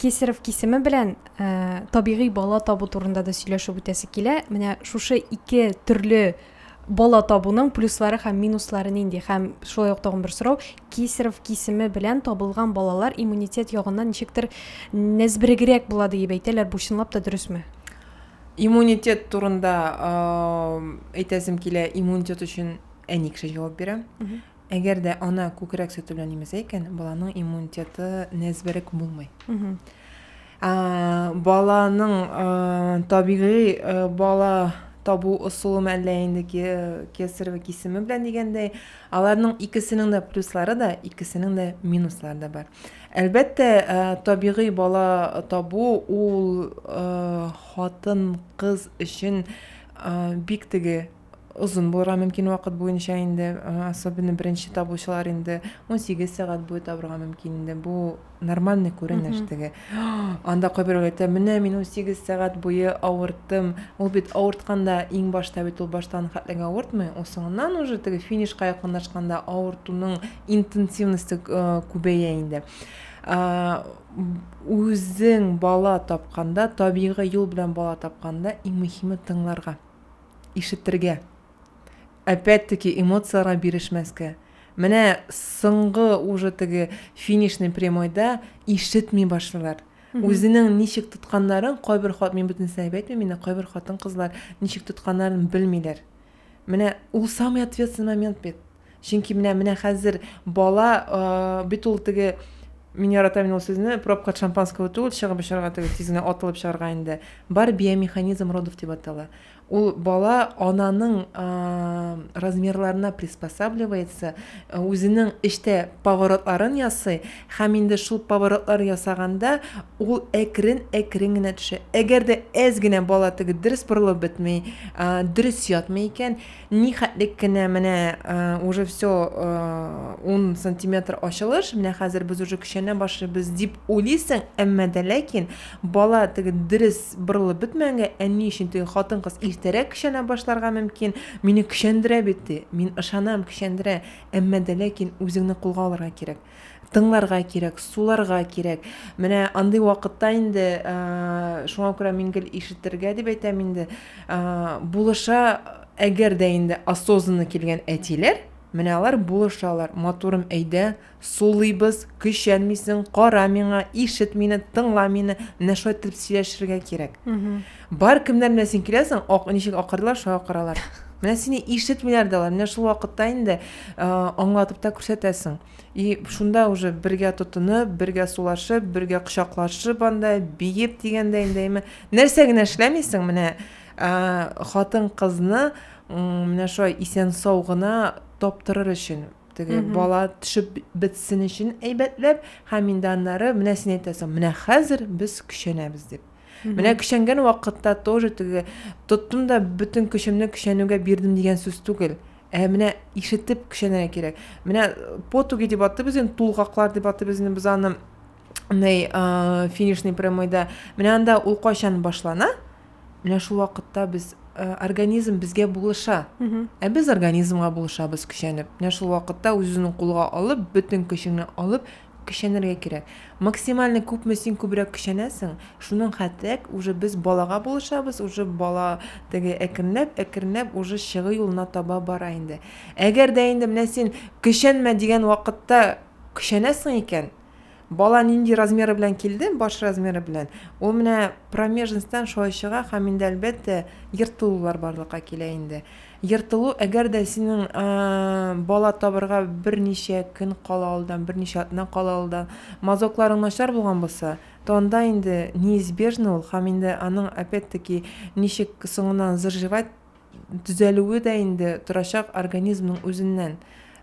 Кесарев кисеме белән ә, табигый бала табу турында да сөйләшеп үтәсе килә. Менә шушы ике төрле бала табуның плюслары һәм минуслары нинди? Һәм шулай ук тагын бер сорау, Кесарев кисеме белән табылган балалар иммунитет ягыннан ничектер нәзберегрәк була диеп әйтәләр. Бу чынлап та дөресме? Иммунитет турында әйтәсем килә, иммунитет өчен әни кеше җавап бирә. Әгәр дә ана күкрәк сөте белән имезә икән, баланың иммунитеты нәзберек булмый. Ә, баланың ә, табигый ә, бала табу ысулы мәллә инде кесар ва кисеме белән дигәндәй, аларның икесенең дә плюслары да, икесенең дә минуслары да бар. Әлбәттә, ә, табигый бала табу ул ә, хатын, кыз өчен ә, бик теге озын булырга мөмкин вакыт буенча инде, особенно беренче табучылар инде 18 сәгать буе табырга мөмкин инде. Бу нормальный күренеш теге. Анда кайбер әйтә, менә мин 18 сәгать буе авырттым. Ул бит авыртканда иң башта бит ул баштан хәтлек авыртмый. Ул соңыннан уже теге финишка якынлашканда авыртуның интенсивности э, күбәя инде. Үзең бала тапканда, табигый юл белән бала тапканда иң мөһиме тыңларга. ишетергә, опять-таки эмоцияләргә бирешмәскә. Менә соңгы уже теге финишный прямойда ишетми башлыйлар. Үзенең ничек тотканнарын кайбер хат мин бөтен сәбәп әйтмим инде, кайбер хатын-кызлар ничек тотканнарын белмиләр. Менә ул самый ответственный момент бит. Чөнки менә менә хәзер бала бит ул теге мин яратам мин ул сүзне пробка шампанского түгел чыгып очарга түгел тиз генә атылып чыгарга инде бар биомеханизм родов дип атала ул бала ананың размерларына приспосабливается үзенең эчтә поворотларын ясый һәм инде шул поворотлар ясаганда ул әкрен әкрен генә төшә әгәр дә әз генә бала теге дөрес борылып бетми дөрес ятмый икән Нихәтлек кенә менә уже все ун сантиметр ачылыш, менә хәзер без уже көчәнә башлыйбыз дип уйлыйсың, әмма дә ләкин бала теге дөрес борылып бетмәгәнгә, әни өчен теге хатын-кыз иртәрәк көчәнә башларга мөмкин, мине көчәндерә бит ди, мин ышанам, көчәндерә, әмма дә ләкин үзеңне кулга алырга кирәк. Тыңларга кирәк, суларга кирәк. Менә андый вакытта инде, шуңа күрә мин гел ишетергә дип әйтәм инде, булыша, әгәр дә инде осознанно килгән әтиләр, менә алар булышалар. Матурым, әйдә, сулыйбыз, көчәнмисең, кара миңа, ишет мине, тыңла мине, менә шулай итеп сөйләшергә кирәк. Бар, кемнәр белән син киләсең, ак, ничек акырдылар, шулай акыралар. Менә сине ишетмиләр дә алар, менә шул вакытта инде аңлатып та күрсәтәсең. И шунда уже бергә тотынып, бергә сулашып, бергә кочаклашып анда, биеп дигәндә инде, әйме. Нәрсә генә эшләмисең, менә хатын-кызны менә шулай исән-сау гына таптырыр өчен, теге бала төшеп бетсен өчен әйбәтләп, һәм инде аннары менә син әйтәсең, менә хәзер без көчәнәбез дип. Менә көчәнгән вакытта тоже теге тоттым да бөтен көчемне көчәнүгә бирдем дигән сүз түгел. Ә менә ишетеп көчәнергә кирәк. Менә потуги дип атыйбыз инде, тулгаклар дип атыйбыз инде без аны ней финишный прямойда. Менә анда ул кайчан башлана? Менә шул вакытта без организм безгә булыша. Ә без организмга булышабыз көчәнеп. Менә шул вакытта үзен кулга алып, бөтен көчеңне алып, Көчәнергә кирәк. Максимально күпме син күбрәк көчәнәсең, шуның хәтлерәк уже без балага булышабыз, уже бала теге әкренләп, әкренләп уже чыгу юлына таба бара инде. Әгәр дә инде менә син көчәнмә дигән вакытта көчәнәсең икән, бала нинди размеры белән килде, баш размеры белән, ул менә промежностьтан шулай чыга һәм инде әлбәттә ертылулар барлыкка килә инде. Ертылу, әгәр дә синең бала табырга берничә көн кала алдан, берничә атна кала алдан мазокларың начар булган булса, то анда инде неизбежно ул, һәм инде аның опять-таки ничек соңыннан заживать, төзәлүе дә инде торачак организмның үзеннән.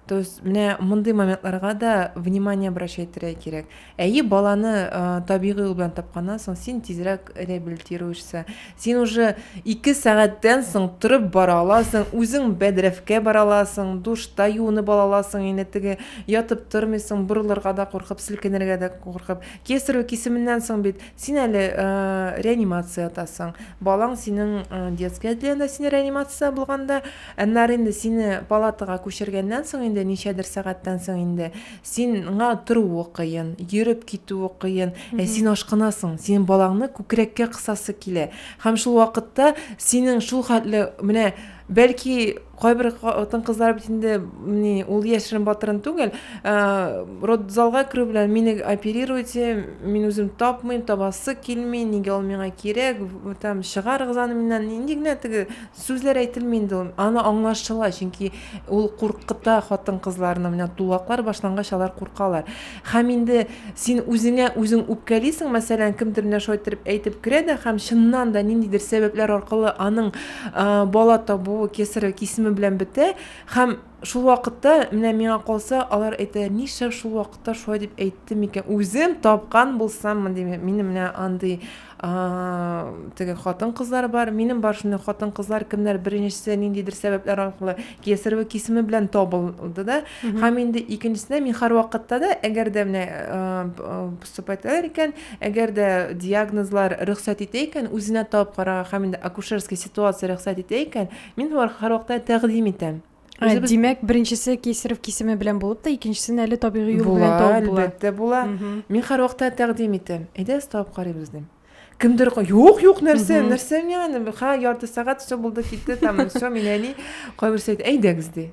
То есть менә мондый моментларга да внимание обращать итәргә кирәк. Әйе, баланы э, табигый юл белән тапканнан соң син тизрәк реабилитируешься. Син уже 2 сәгатьтән соң торып бара аласың, үзең бәдрәфкә бара аласың, душта юынып ала аласың, инде теге ятып тормыйсың, борылырга да куркып, селкенергә дә куркып. Кесарево кисеменнән соң бит син әле э, реанимация ятасың. Балаң синең э, детская отделениедә син реанимация булганда Аннары инде сине палатага күчергәннән соң инде, ничәдер сәгатьтән соң инде, син ңа торуы кыен, йөреп китүе кыен, ә син ашкынасың, синең балаңны күкрәккә кысасы килә. Һәм шул вакытта синең шул хәтле, менә, бәлки, кайбер хатын-кызлар бит инде, ни, ул яшерен-батырын түгел, ә, родзалга керү белән, мине оперируйте, мин үзем тапмыйм, табасы килми, нигә ул миңа кирәк, там, чыгарыгыз аны миннән, нинди генә теге Сүзләр әйтелми инде ул. Аны аңлашыла, чөнки ул куркыта хатын-кызларны. Менә тулаклар башлангач, алар куркалар. Һәм инде син үзеңә үзең үпкәлисең, мәсәлән, кемдер менә шулай иттереп әйтеп керә дә һәм чыннан да ниндидер сәбәпләр аркылы аның бала табуы кесарево кисеме белән бетә һәм Шул вакытта, менә миңа калса, алар әйтәләр, нишләп шул вакытта шулай дип әйтте микән? Үзем тапкан булсаммы, дим, минем менә андый теге хатын-кызлар бар. Минем бар шундый хатын-кызлар, кемнәр беренчесе ниндидер сәбәпләр аркылы кесарево кисеме белән табылды да. Һәм инде икенчесенә мин һәрвакытта да, әгәр дә менә поступательләр икән, әгәр дә диагнозлар рөхсәт итә икән, үзенә табып карарга һәм инде акушерский ситуация рөхсәт итә икән, Мин һәрвакытта тәкъдим итәм. Ә, Үзебез... Димәк, беренчесе кесарев кисеме белән булып та, икенчесен әле табигый юл белән табып була. Әлбәттә була. Мин һәрвакытта тәкъдим итәм. Әйдәгез табып карыйбыз дим. Кемдер юк, юк, нәрсә, нәрсә яны, ха, ярты сәгать все булды, китте, там, все, мин әни, кайберсе әйтә, әйдәгез ди.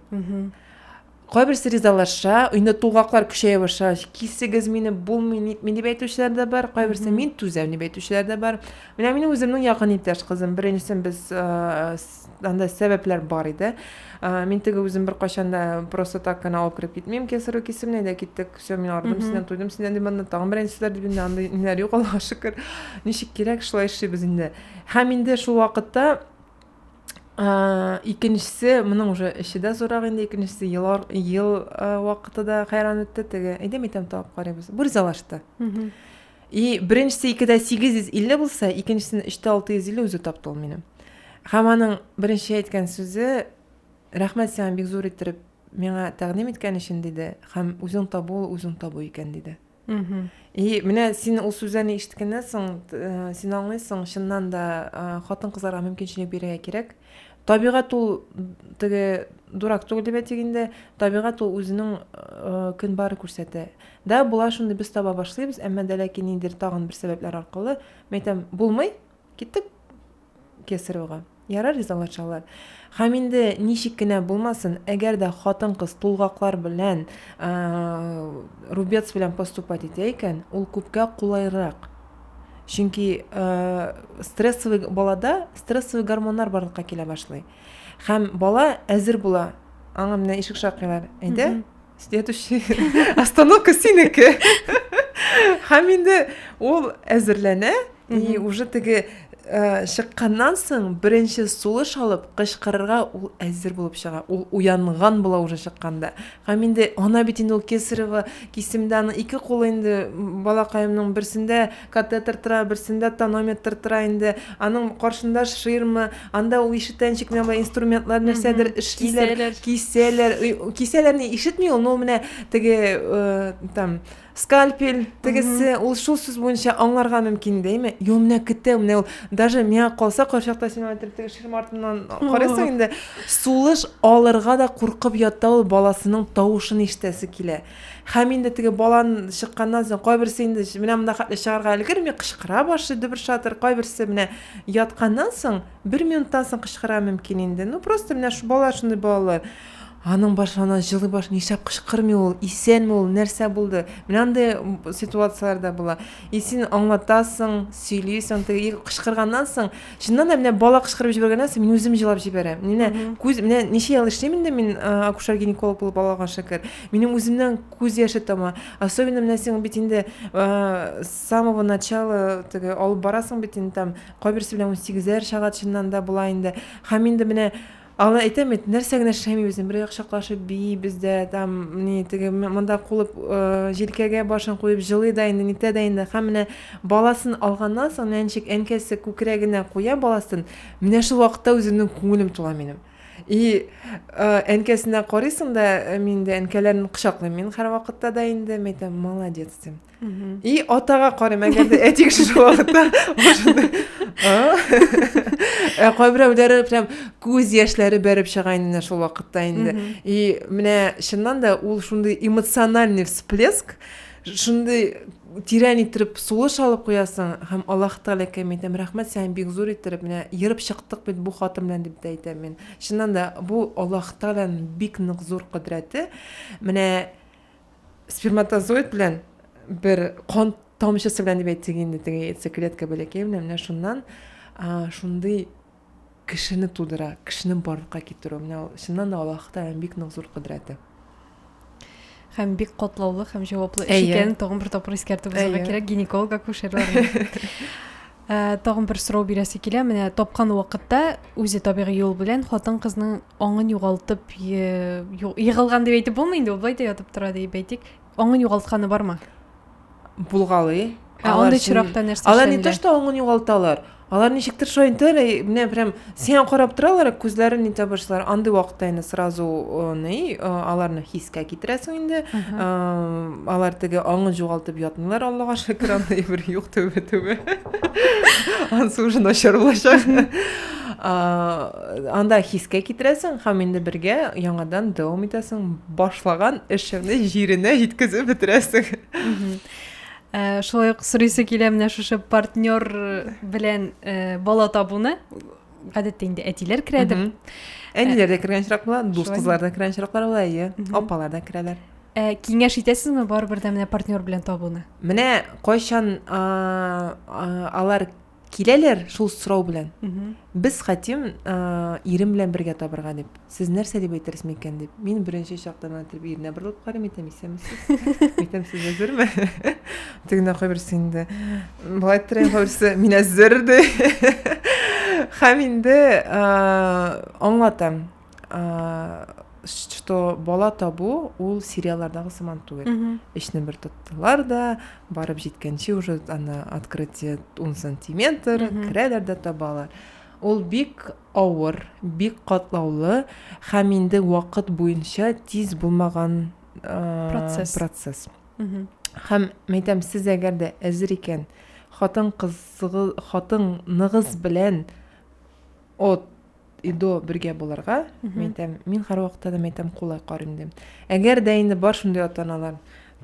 Кайберсе ризалаша, инде тулгаклар көчәя башлагач, кисегез мине, булмый, нитми дип әйтүчеләр дә бар, кайберсе мин түзәм дип әйтүчеләр дә бар. Менә минем үземнең якын иптәш кызым, беренчесен без анда сәбәпләр бар иде. Мин теге үзем бер кайчан да просто так кына алып кереп китмим, кесару кисемне дә киттек. Все, мин ардым синнән, туйдым синнән дип анда тагын берән сүзләр дип инде андый ниләр юк, Аллаһка шөкер. Ничек кирәк, шулай эшлибез инде. Һәм инде шул вакытта Ә, икенчесе, моның уже эче дә зурак инде, икенчесе ел, ел ә, вакыты да хәйран итте, теге, әйдәм итәм табып карыйбыз, бер залашты. И беренчесе икедә 850 булса, икенчесен 3 650 үзе тапты ул минем. Һәм аның беренче әйткән сүзе, рәхмәт сиңа бик зур иттереп миңа тәкъдим иткән өчен, диде, һәм үзең табу, үзең табу икән, диде. И менә син ул сүзләрне ишеткәннән соң э, син аңлыйсың чыннан да э, хатын кызларга мөмкинчелек бирергә кирәк табигать ул теге дурак түгел дип әйтик инде табигать ул үзенең э, көн бары күрсәтә да болар шундый без таба башлыйбыз әмма дә ләкин ниндидер тагын бер сәбәпләр аркылы мен әйтәм булмый Киттек кесаревага. Ярар ризалашалар. Һәм инде ничек кенә булмасын, әгәр дә хатын-кыз тулгаклар белән рубец белән поступать итә икән, ул күпкә кулайрак. Чөнки стрессовый балада стрессовый гормоннар барлыкка килә башлый. Һәм бала әзер була. Аңа менә ишек шакыйлар. Әйдә, следующий остановка синеке һәм инде ул әзерләнә и уже теге э, чыкканнан соң беренче сулыш алып кычкырырга ул әзер булып чыга ул уянган була уже чыкканда һәм инде ана бит инде ул кесарево кисемдә аның ике кулы инде балакаемның берсендә Катетер тора, берсендә тонометр тора инде, аның каршында ширма, анда ул ишетәнчек менә болай инструментлар нәрсәдер Мгм. эшлиләр, Кисәләр. кисәләр, Ой, у- кисәләрне ишетми ул, ну менә теге э, там скальпель тегесе, ул шул сүз буенча аңларга мөмкин дәйме? Йо, менә көтә, менә ул даже миңа калса кайчакта син аңа теге ширма артыннан карыйсың инде, сулыш алырга да куркып ята ул, баласының тавышын ишетәсе килә. Һәм инде теге балан чыкканнан соң кайберсе инде менә монда хәтле чыгарга өлгерми, кычкыра башлый дөбер шатыр, кайберсе менә ятканнан соң бер минуттан соң кычкыра мөмкин инде. Ну просто менә шу балалар шундый балалар. Аның башлана җылы баш нишләп кычкырмый ул, исәнме ул, нәрсә булды? Менә андый ситуацияләр дә була. И син аңлатасың, сөйлисең, теге кычкырганнан соң Чыннан да менә бала кычкырып җибәргәннән соң мин үзем җылап җибәрәм. Менә күз менә ничә ел эшлим инде мин акушер гинеколог булып Аллага шөкер. Минем үземнең күз яше тама. Особенно менә син бит инде с самого начала теге алып барасың бит инде там кайберсе белән 18 чыга чыннан да була инде. Һәм инде менә Аны әйтәм бит, нәрсә генә эшләмибез, бер як чаклашып биибез дә, там, ни, теге м- монда кулып, э, җилкәгә башын куеп җылый да инде, нитә дә инде. Һәм менә баласын алганнан соң, менә ничек әнкәсе күкрәгенә куя баласын, менә шул вакытта үземнең күңелем тула минем. И, э, әнкәсенә карыйсың да, э, мин дә әнкәләрне кочаклыйм мин һәрвакытта да инде, мин әйтәм, молодец, дим. И атага карыйм, әгәр дә әти кеше шул вакытта Ә кайберәүләре прям күз яшьләре бәреп чыга инде шул вакытта инде. И менә чыннан да ул шундый эмоциональный всплеск, шундый тирән иттереп сулыш алып куясың һәм аллаһ тәгаләкә мин әйтәм рәхмәт сиңа бик зур иттереп менә ерып чыктык бит бу хатын белән дип тә әйтәм мин чыннан да бу аллаһ тәгаләнең бик нык зур кодрәте менә Сперматозоид белән бер кан тамчысы белән дип әйтсәк инде теге яйцеклетка бәләкәй белән менә шуннан шундый кешене тудыра, кешене барлыкка китерү. Менә ул чыннан да Аллаһ Тәгаләнең бик нык зур кодрәте. Һәм бик катлаулы һәм җаваплы эш икәнен тагын бер тапкыр искәртеп узарга кирәк гинеколог акушерларны. Ә, тагын бер сорау бирәсе килә. Менә тапкан вакытта үзе табигый юл белән хатын-кызның аңын югалтып егылган дип әйтеп булмый инде, ул былай да ятып тора дип әйтик. Аңын югалтканы бармы? Булгалый. Ә андый чиракта нәрсә эшләнелә? Алар не то, что аңын югалталар. Алар ничектер шулай интелле, менә прям Сиңа карап торалар, ә күзләрен нитә башлар. Андый вакытта инде сразу ни, аларны хискә китерәсең инде. Алар теге аңы югалтып ятмыйлар, Аллага шөкер, андый бер юк төбе төбе. Ансы уже начар булачак. Анда хискә китерәсең һәм инде бергә яңадан дәвам итәсең башлаган эшеңне җиренә җиткезеп бетерәсең. Ә, шулай ук сорыйсы килә менә шушы партнер белән ә, бала табуны гадәттә инде әтиләр керәдер әниләр дә кергән очрак була дус кызлар да кергән очраклар була әйе апалар да керәләр ә, киңәш итәсезме барыбер дә менә партнер белән табуны менә кайчан а, а, алар Киләләр шул сорау белән. Без хәтим ирем белән бергә табырга дип. Сез нәрсә дип әйтерсез микән дип. Мин беренче чактан итеп иренә борылып карыйм, әйтәм, исәнмесез. Әйтәм, сез әзерме? Тегенә кайберсе инде. Болай иттерәм, кайберсе мин әзер ди. Һәм инде аңлатам. что бала табу ул сериаллардагы сыман түгел эшне бер тоттылар да барып җиткәнче уже ана открытие ун сантиметр керәләр дә табалар ул бик авыр бик катлаулы һәм инде вакыт буенча тиз булмаган процесс процесс һәм мәйтәм сез әгәр дә әзер икән хатын кызыгыз хатыныгыз белән от и до бергә булырга мин әйтәм мин һәрвакытта да мин әйтәм кулай карыйм дим әгәр дә инде бар шундый ата аналар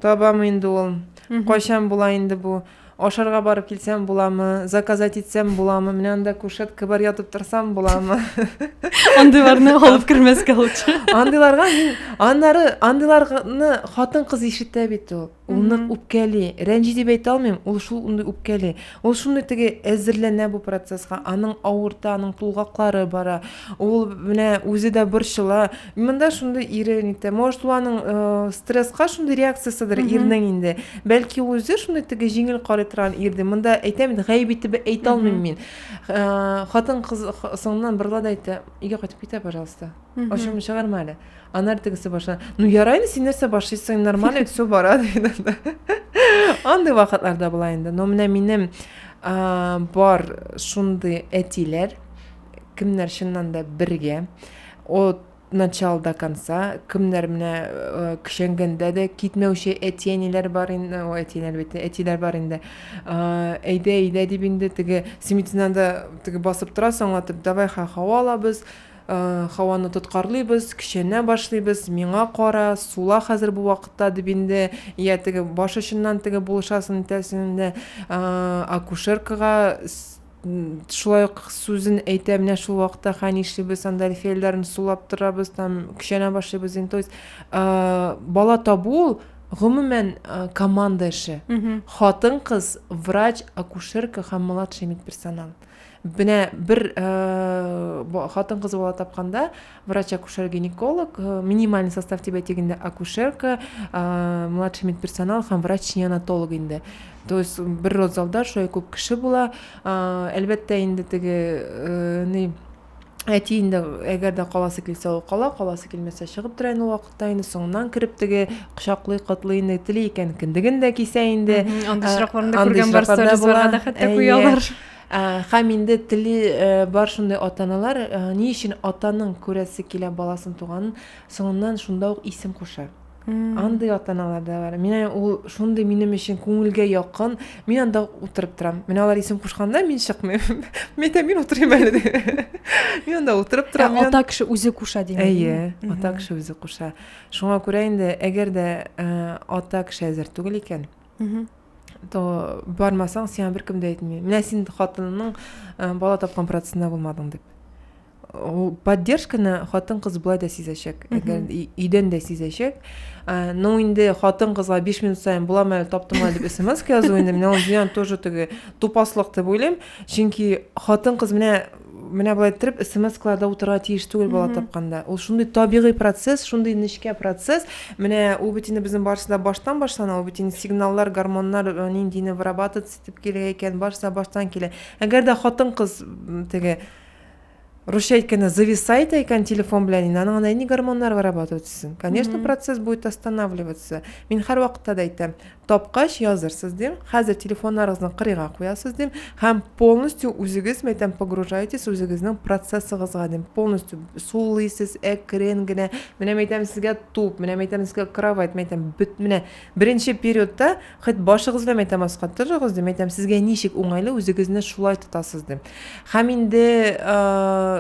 табам инде ул кайчан була инде бу ашарга барып килсәм буламы заказать итсәм буламы менә анда кушетка бар ятып торсам буламы андыйларны алып кермәскә лучше андыйларга мин аннары андыйларны хатын кыз ишетә бит ул Ул нык үпкәли, рәнҗи дип әйтә алмыйм, ул шул шундый үпкәли. Ул шундый теге әзерләнә бу процесска, аның авырта, аның тулгаклары бара. Ул менә үзе дә борчыла. Монда шундый ире нитә. Может, ул аның э, стресска шундый реакциясидер ирнең инде. Бәлки ул үзе шундый теге җиңел карый торган ирде. Монда әйтәм инде, гаеп итеп әйтә алмыйм мин. Э, Хатын-кыз соңыннан борыла да әйтә, өйгә кайтып китә, пожалуйста. Ачуымны чыгарма әле. Анар тегесе баша. Ну ярай инде син нәрсә башыйсың, нормально это все бара диде. Андый вакытларда була инде. Но менә минем бар шундый әтиләр, кемнәр чыннан да бергә. От начала до конца кемнәр менә э, кешәнгәндә дә китмәүче әти әниләр бар инде ой әтиләр бит әтиләр бар инде э, әйдә әйдә дип инде теге син бит да теге басып торасың аңлатып давай ха һава алабыз Һаваны тоткарлыйбыз, көчәнә башлыйбыз, миңа кара, сула хәзер бу вакытта, дип инде йә теге баш очыннан теге булышасын итәсен дә акушеркага шулай ук сүзен әйтә, менә шул вакытта хә нишлибез, анда әлфияләрен сулап торабыз, там көчәнә башлыйбыз инде. То есть бала табу ул гомумән команда эше. Хатын-кыз, врач, акушерка һәм младший медперсонал. Менә бер э, хатын-кыз бала тапканда врач-акушер-гинеколог, э, минимальный состав дип әйтегендә акушерка, э, младший медперсонал һәм врач-неонатолог инде. То есть бер родзалда шулай күп кеше була. Әлбәттә инде теге ни әти инде әгәр дә каласы килсә ул кала каласы килмәсә чыгып тора инде ул вакытта инде соңыннан кереп теге кочаклый котлый инде тели икән кендеген дә кисә инде андый очракларны да күргән барсызлар да хәтта куялар Хәм инде теле бар шундый атаналар ни өчен атаның күрәсе килә баласын туганын соңыннан шунда ук исем куша. Андый атаналар да бар. Менә ул шундый минем өчен күңелгә якын. Мин анда утырып торам. Менә алар исем кушканда мин чыкмыйм. Мин дә мин утырыйм әле дип. Мин анда утырып торам. Ә ата кеше үзе куша димени. Әйе, ата кеше үзе куша. Шуңа күрә инде әгәр дә ата кеше әзер түгел икән, мхм то бармасаң сиңа беркем дә әйтмей менә син хатыныңның ә, бала тапкан процессында болмадың деп ол поддержканы хатын кыз былай да сизәчәк әгәр өйдән дә сизәчәк ә, но инде хатын кызга биш минут сайын булам әле таптың әле дип смс язу инде менә ул зыян тоже теге тупаслык дип уйлыйм чөнки хатын кыз менә Менә болай иттереп смс-кларда утырырга тиеш түгел бала тапканда. Ул шундый табигый процесс, шундый нечкә процесс. Менә ул бит инде безнең барысы да баштан башлана, ул бит инде сигналлар, гормоннар э, ниндине вырабатываться итеп килә икән, барысы да баштан килә. Әгәр дә хатын-кыз теге Русча әйткәндә зависает икән телефон белән инде аның андай ни гормоннар вырабатывать конечно процесс будет останавливаться мин һәрвакытта да әйтәм тапкач язырсыз дим хәзер телефоннарыгызны кырыйга куясыз дим һәм полностью үзегез мен әйтәм погружаетесь үзегезнең процессыгызга дим полностью сулыйсыз әкрен генә менә мен әйтәм сезгә туп менә мен әйтәм сезгә кровать мен әйтәм бөт менә беренче периодта хоть башыгыз белән мен әйтәм аска торыгыз дим мен әйтәм сезгә ничек уңайлы үзегезне шулай тотасыз дим һәм инде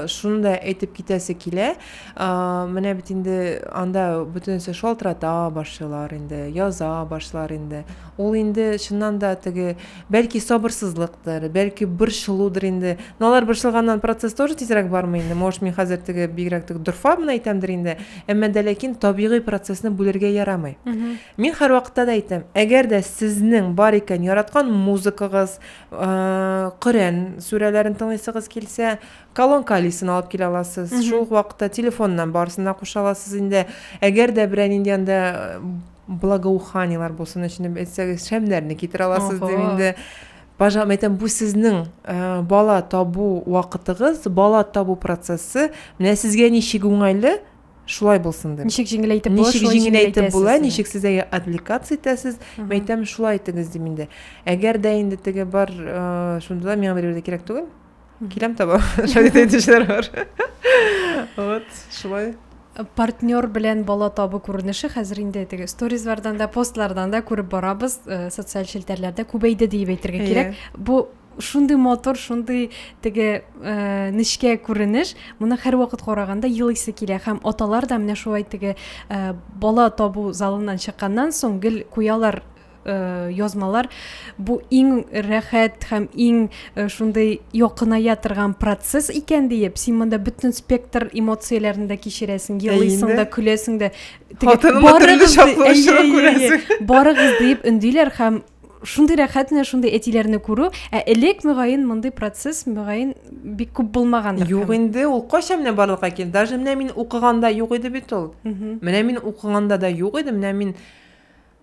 шуны да әйтеп китәсе килә Менә бит инде анда бөтенесе шалтырата башлыйлар инде, яза башлар инде. Ул инде чыннан да теге, бәлки сабырсызлыктыр, бәлки борчылудыр инде. Но алар борчылганнан процесс тоже тизрәк бармый инде. Может, мин хәзер теге бигрәк теге дорфа гына әйтәмдер инде. Әмма дә ләкин табигый процессны бүлергә ярамый. Мин һәрвакытта да әйтәм, әгәр дә сезнең бар икән яраткан музыкагыз, Коръән сүрәләрен тыңлыйсыгыз килсә, Колонка алисын алып килә аласыз. Шул ук вакытта телефоннан барысын да куша аласыз инде. Әгәр дә берәр нинди анда благоуханиелар булсын өчен әйтсәгез, шәмнәрне китерә аласыз дип инде. Пожалуйста, әйтәм, бу сезнең э, бала табу вакытыгыз, бала табу процессы. Менә сезгә ничек уңайлы, шулай булсын дип. Ничек җиңеләйтеп була, ничек җиңеләйтеп була, ничек сез әгәр аппликация итәсез, әйтәм, шулай итегез дип инде. Әгәр дә инде теге бар, э, шунда да миңа бер кирәк түгел. киләм таба шәһит әйтүчеләр бар вот шулай партнер белән бала табу күренеше хәзер инде теге сторизлардан да постлардан да күреп барабыз э, социаль челтәрләрдә күбәйде диеп әйтергә yeah. кирәк бу шундый мотор шундый теге ә, нечкә күренеш моны һәрвакыт караганда елыйсы килә һәм аталар да менә шулай теге ә, бала табу залыннан чыкканнан соң гел куялар э, язмалар бу иң рәхәт һәм иң э, шундый якыная торган процесс икән диеп син монда бөтен спектр эмоцияләрен дә кичерәсең елыйсың да көләсең дә барыгыз диеп өндиләр һәм шундый рәхәт менә шундый әтиләрне күрү ә элек мөгаен мондый процесс мөгаен бик күп булмагандыр юк инде ул кайчан менә барлыкка килде даже менә мин укыганда юк иде бит ул менә мин укыганда да юк иде менә мин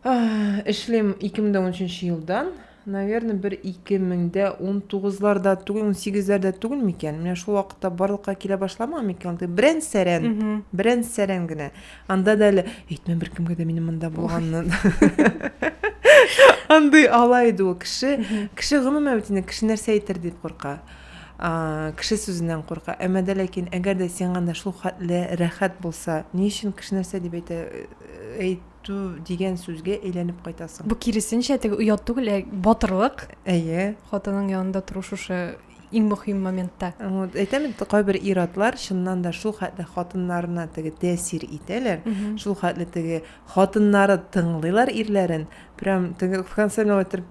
Эшлим 2013 елдан. Наверное, бер 2019-ларда түгел, 18-ләрдә түгел микән? Менә шул вакытта барлыкка килә башламаган микән ул? Теге Берән сәрән, берән сәрән генә. Анда да әле әйтмә беркемгә дә минем монда булганны. Андый ала иде ул кеше. Кеше гомумән бит инде кеше нәрсә әйтер дип курка. А, кеше сүзеннән курка. Әмма дә ләкин әгәр дә сиңа анда шул хәтле рәхәт булса, ни өчен кеше нәрсә дип әйтә, әйт, ту дигән сүзгә әйләнеп кайтасың. Бу киресенчә, теге оят түгел, ә батырлык. Әйе. Хатының янында тору шушы иң мөһим моментта. Вот, әйтәм бит, кайбер ир-атлар чыннан да шул хәтле хатыннарына теге тәэсир итәләр, шул хәтле теге хатыннары тыңлыйлар ирләрен, прям теге в конце миңа әйтер,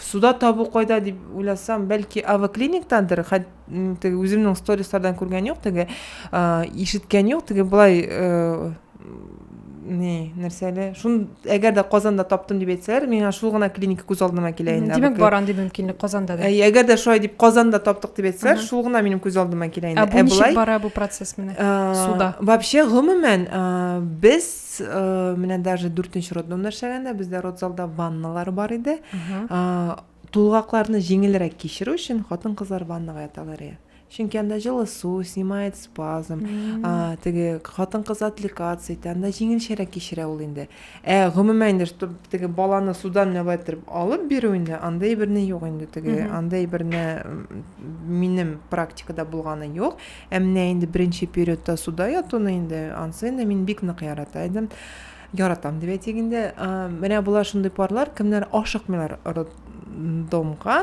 суда табу кайда дип уйласам бәлки авоклиниктандыр теге үземнең стористардан күргән юк теге ишеткән юк теге былай не нәрсә әле шун әгәр дә казанда таптым дип әйтсәләр миңа шул гына клиника күз алдыма килә инде димәк бар андый мөмкинлек казанда да әгәр дә шулай дип казанда таптык дип әйтсәләр шул гына минем күз алдыма килә инде ә бу ничек бара бу процесс менә суда вообще гомумән без Менә даже дүртенче роддомда эшләгәндә бездә родзалда ванналар бар иде. Тулгакларны җиңелрәк кичерү өчен хатын-кызлар ваннага яталар иде. Чөнки анда җылы су, снимает спазм, теге хатын-кыз атликация итә, анда җиңелчәрәк кичерә ул инде. Ә гомумән инде, чтобы теге баланы судан нәбәт итеп алып бирү инде, андый берни юк инде теге, андый берне минем практикада булганы юк. Ә менә инде беренче периодта суда ятуны инде, ансы инде мин бик нык ярата идем. Яратам дип әйтик инде. Менә болар шундый парлар, кемнәр ашыкмыйлар роддомга,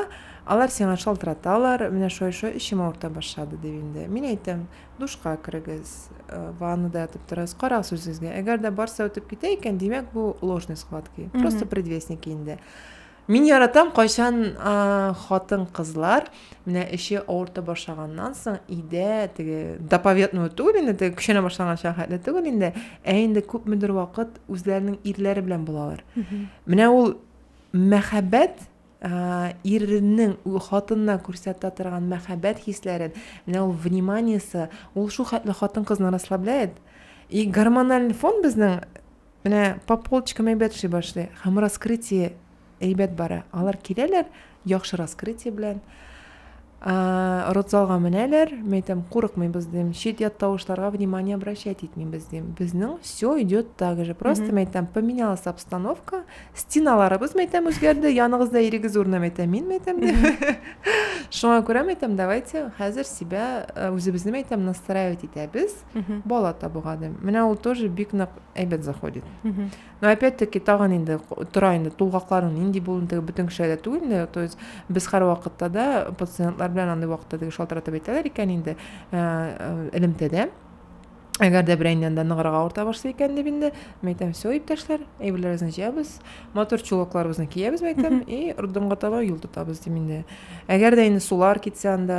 алар сиңа шалтыраталар, менә шулай-шулай эчем авырта башлады дип инде. Мин әйтәм, душка керегез, ваннада ятып торыгыз, карагыз үзегезгә. Әгәр дә барса үтеп китә икән, димәк, бу ложный схватки, просто предвестники инде. Мин яратам кайчан хатын-кызлар менә эче авырта башлаганнан соң өйдә теге доповедного түгел инде, теге көчәнә башлаганча хәтле түгел инде, ә инде күпмедер вакыт үзләренең ирләре белән булалар. Менә ул мәхәббәт ирнең хатынына күрсәтә торган мәхәббәт хисләрен, менә ул вниманиесе, ул шул хәтле хатын-кызны расслабляет. И гормональ фон безнең Менә по полочкам әйбәт эшли башлый. Һәм раскрытие әйбәт бара. Алар киләләр, яхшы раскрытие белән. Родзалга менәләр, мен әйтәм, курыкмыйбыз дим. Чит ят тавышларга внимание обращать итмибез дим. Безнең все идет так же. Просто мен әйтәм, поменялась обстановка, стеналарыбыз мен әйтәм үзгәрде, яныгызда ирегез урыны мен әйтәм, мин мен әйтәм дип. Шуңа күрә мен әйтәм, давайте хәзер себя э, үзебезне мен әйтәм настраивать итәбез. Бала табуга дим. Менә ул тоже бик нык әйбәт заходит. Но опять-таки тагын инде тора инде тулгакларың нинди булуын теге бөтен кешеләр дә түгел инде. То есть без һәрвакытта да пациентлар белән андый вакытта теге шалтыратып әйтәләр икән инде э, элемтәдә. Әгәр дә берәйнең янында ныграк авырта башлый икән дип инде, мин әйтәм, все, иптәшләр, әйберләребезне җыябыз, матур чулакларыбызны киябез, мин әйтәм, и роддомга таба юл тотабыз дим инде. Әгәр дә инде сулар китсә анда,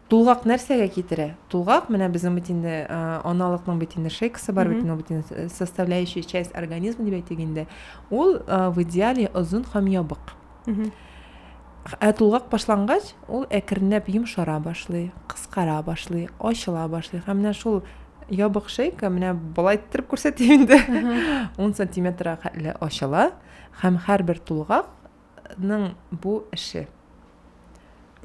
Тулгак нәрсәгә китерә? Тулгак, менә безнең бит инде аналыкның бит инде шейкасы бар бит, бит инде составляющая часть организма дип әйтик инде. Ул в идеале озын һәм ябык. Ә тулгак башлангач, ул әкренләп йомшара башлый, кыскара башлый, ачыла башлый. Һәм менә шул ябык шейка менә болай иттереп күрсәтим инде. 10 сантиметрга хәтле ачыла һәм һәрбер тулгак Тулгакның бу эше.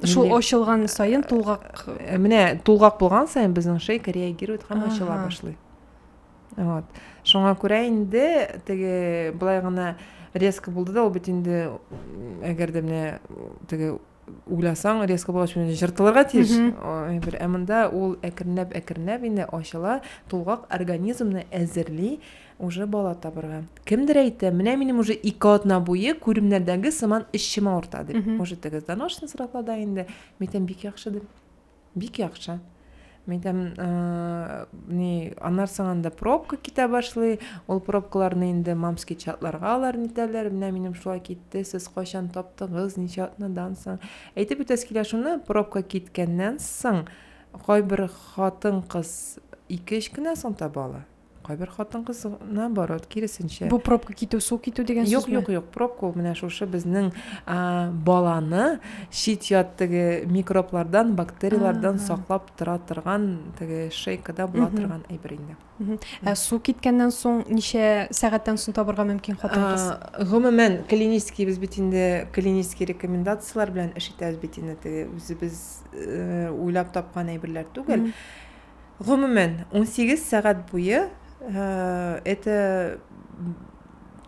Шул ачылган саен тулгак. Э, менә тулгак булган саен безнең шейка реагирует һәм ачыла башлый. Вот. Шуңа күрә инде теге былай гына резко булды да ул бит инде әгәр дә менә теге уйласаң резко булгач менә жыртылырга тиеш бер ә монда ул әкренләп әкренләп инде ачыла тулгак организмны әзерли Уже бала табырга. Кемдер әйтә, менә минем уже ике атна буе күремнәрдәге сыман эчем авырта дип. Уже теге доношны срапла да инде. Митем бик яхшы дип. Бик яхшы. Митем, э, ни, аннар саңанда пробка китә башлый. Ул пробкаларны инде мамский чатларга алар нитәләр. Менә минем шулай китте. Сез кайчан таптыгыз, ничә атнадан соң? Әйтеп үтәс килә шуны, пробка киткәннән соң кайбер хатын-кыз ике-өч кенә соң таба ала. Кайбер хатын-кыз наоборот, киресенчә. Бу пробка китү, су китү дигән сүзме? Юк, юк, юк, пробка ул менә шушы безнең баланы чит ят теге микроблардан, бактерияләрдән саклап тора торган теге шейкада була торган әйбер инде. Ә су киткәннән соң ничә сәгатьтән соң табырга мөмкин хатын-кыз? Гомумән, клинический без бит инде клинический рекомендацияләр белән эш итәбез бит инде, теге үзебез уйлап тапкан әйберләр түгел. Гомумән, унсигез сәгать буе это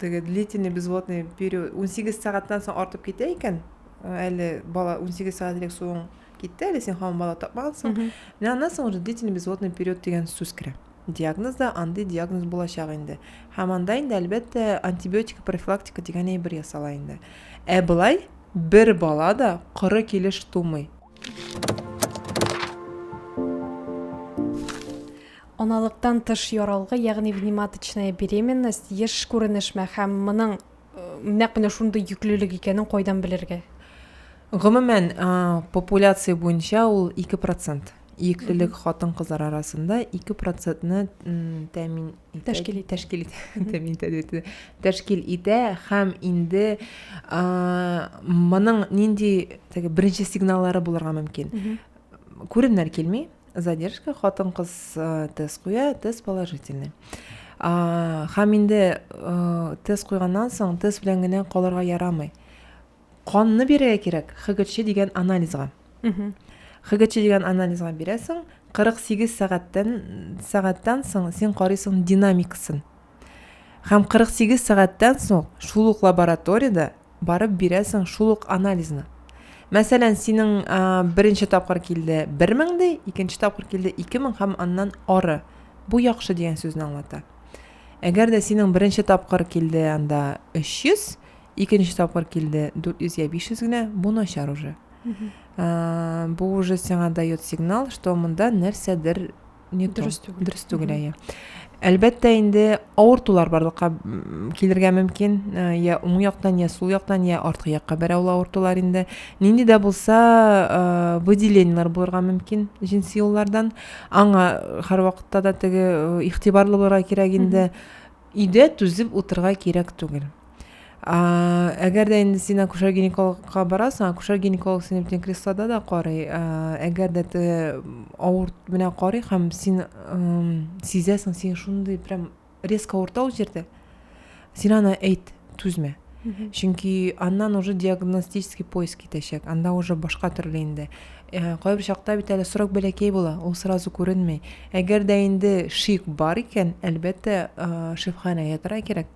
теге длительный безводный период унсигез сәгатьтән соң артып китә икән, әле бала унсигез сәгать элек суың китте, әле син һаман бала тапмагансың. Менә аннан соң уже длительный безводный период дигән сүз керә. Диагноз да андый диагноз булачак инде. Һәм анда инде, әлбәттә, антибиотика профилактика дигән әйбер ясала инде. Ә былай бер бала да коры килеш тумый. Аналыктан тыш яралгы, ягъни вниматочная беременность, еш күренешме һәм моның нәкъ менә шундый йөклелек икәнен кайдан белергә? Гомумән, популяция буенча ул 2%. Йөклелек хатын-кызлар арасында 2%-ны тәэмин тәшкил итә тәшкил итә мин тәшкил итә һәм инде моның нинди теге беренче сигналлары булырга мөмкин күренер килми задержка хатын кыз тест куя тест положительный һәм инде тест куйганнан соң тест белән генә калырга ярамый Канны бирергә кирәк ХГЧ дигән анализга. ХГЧ дигән анализга бирәсең, 48 сәгатьтән сәгатьтән соң син карыйсың динамикасын. Һәм 48 сәгатьтән соң шул ук лабораториядә барып бирәсең шул ук анализны. Мәсәлән, синең беренче тапкыр килде 1000 ди, икенче тапкыр килде 2000 һәм аннан ары. Бу яхшы дигән сүзне аңлата. Әгәр дә синең беренче тапкыр килде анда 300, Икенче тапкыр килде 400 я 500 генә, бу начар уже. Бу уже сиңа дает сигнал, что монда нәрсәдер не дөрес түгел. Дөрес түгел, әйе. Әлбәттә инде авыртулар барлыкка килергә мөмкин, я уң яктан, я сул яктан, я арткы якка берәү авыртулар инде. Нинди дә булса, выделениеләр булырга мөмкин җенси юллардан. Аңа һәрвакытта да теге игътибарлы булырга кирәк инде. Өйдә түзеп утырырга кирәк түгел. Әгәр дә инде син акушер-гинекологка барасың, акушер-гинеколог сине бүтән креслода да карый. Әгәр дә ты авырт менә карый һәм син сизәсең, син шундый прям резко авырта ул җирдә. Син аны әйт, түзмә. Чөнки аннан уже диагностический поиск китәчәк. Анда уже башка төрле инде. Э, кайбер чакта бит әле срок бәләкәй була, ул сразу күренми. Әгәр дә инде шик бар икән, әлбәттә, э, шифханәгә тора кирәк.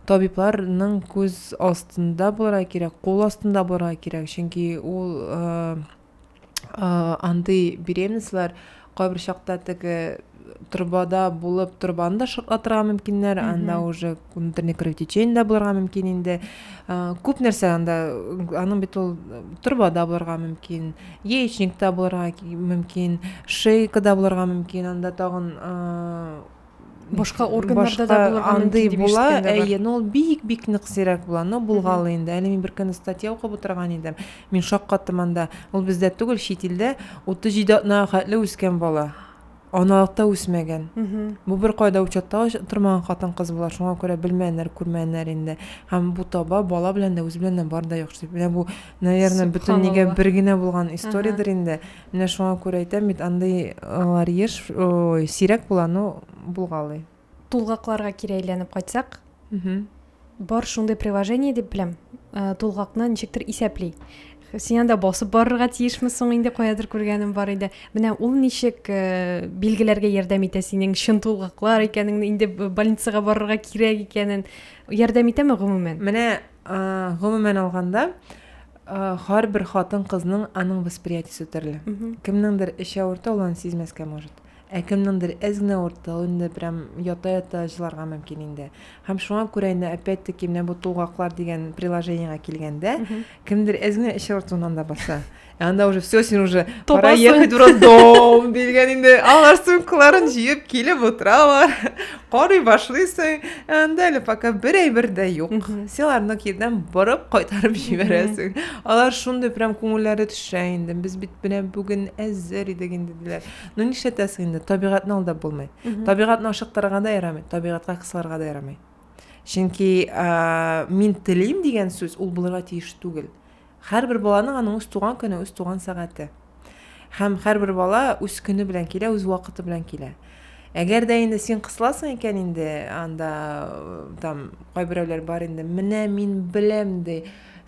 табибларның күз астында булырга кирәк, кул астында булырга кирәк, чөнки ул андый беременслар кайбер чакта теге трубада булып трубаны да шартлатырга мөмкиннәр анда уже внутренний кровотечение да булырга мөмкин инде күп нәрсә анда аның бит ул трубада булырга мөмкин яичникта булырга мөмкин шейкада булырга мөмкин анда тагын Башка органнарда да булырга андый мөмкин була, әйе, но ул бик-бик нык сирәк була. Но булган инде. Әле мин беркөнне статья укып утырган идем. Мин шаккаттым анда. Ул бездә түгел, чит илдә 37 атнага хәтле үскән бала. Аналыкта үсмәгән. Бу бер кайда учетта тормаган хатын-кыз була. Шуңа күрә белмәннәр, күрмәннәр инде. Һәм бу таба бала белән дә үзе белән дә бар да яхшы. Менә бу, наверное, бөтен нигә бер генә булган историядер инде. Менә шуңа күрә әйтәм бит, андый лар еш, ой, сирәк була, ну, булгалый. Тулгакларга кире әйләнеп кайтсак, бар шундый приложение дип беләм, э, тулгакны ничектер исәпли. Син анда басып барырга тиешме соң инде каядыр күргәнем бар иде. Менә ул ничек э, билгеләргә ярдәм итә синең чын тулгаклар икәнеңне, инде больницага барырга кирәк икәнен ярдәм итәме гомумән? Менә гомумән алганда һәрбер хатын кызның аның восприятиесе төрле кемнеңдер эче авырта ул аны сизмәскә может ә кемнеңдер әз генә авырта ул инде прям ята ята җыларга мөмкин инде һәм шуңа күрә инде опять таки менә бу тулгаклар дигән приложениегә килгәндә кемдер әз генә эче авыртуыннан да баса Ә анда уже все, син уже пора ехать в роддом дигән инде. Алар сумкаларын җыеп килеп утыралар. Карый башлыйсың. Ә анда әле пока бер әйбер дә юк. Син аларны кирдән борып кайтарып җибәрәсең. Алар шундый прям күңелләре төшә инде. Без бит менә бүген әзер идек инде диләр. Ну нишләтәсең инде? Табигатьне алда булмый. Табигатьне ашыктырырга да ярамый, табигатька кысылырга да ярамый. Чөнки мин телим дигән сүз ул булырга тиеш түгел. Һәрбер баланың аның үз туган көне, үз туган сәгате. Һәм һәрбер бала үз көне белән килә, үз вакыты белән килә. Әгәр дә инде син кысыласың икән инде, анда там кайберәүләр бар инде, менә мин беләм ди,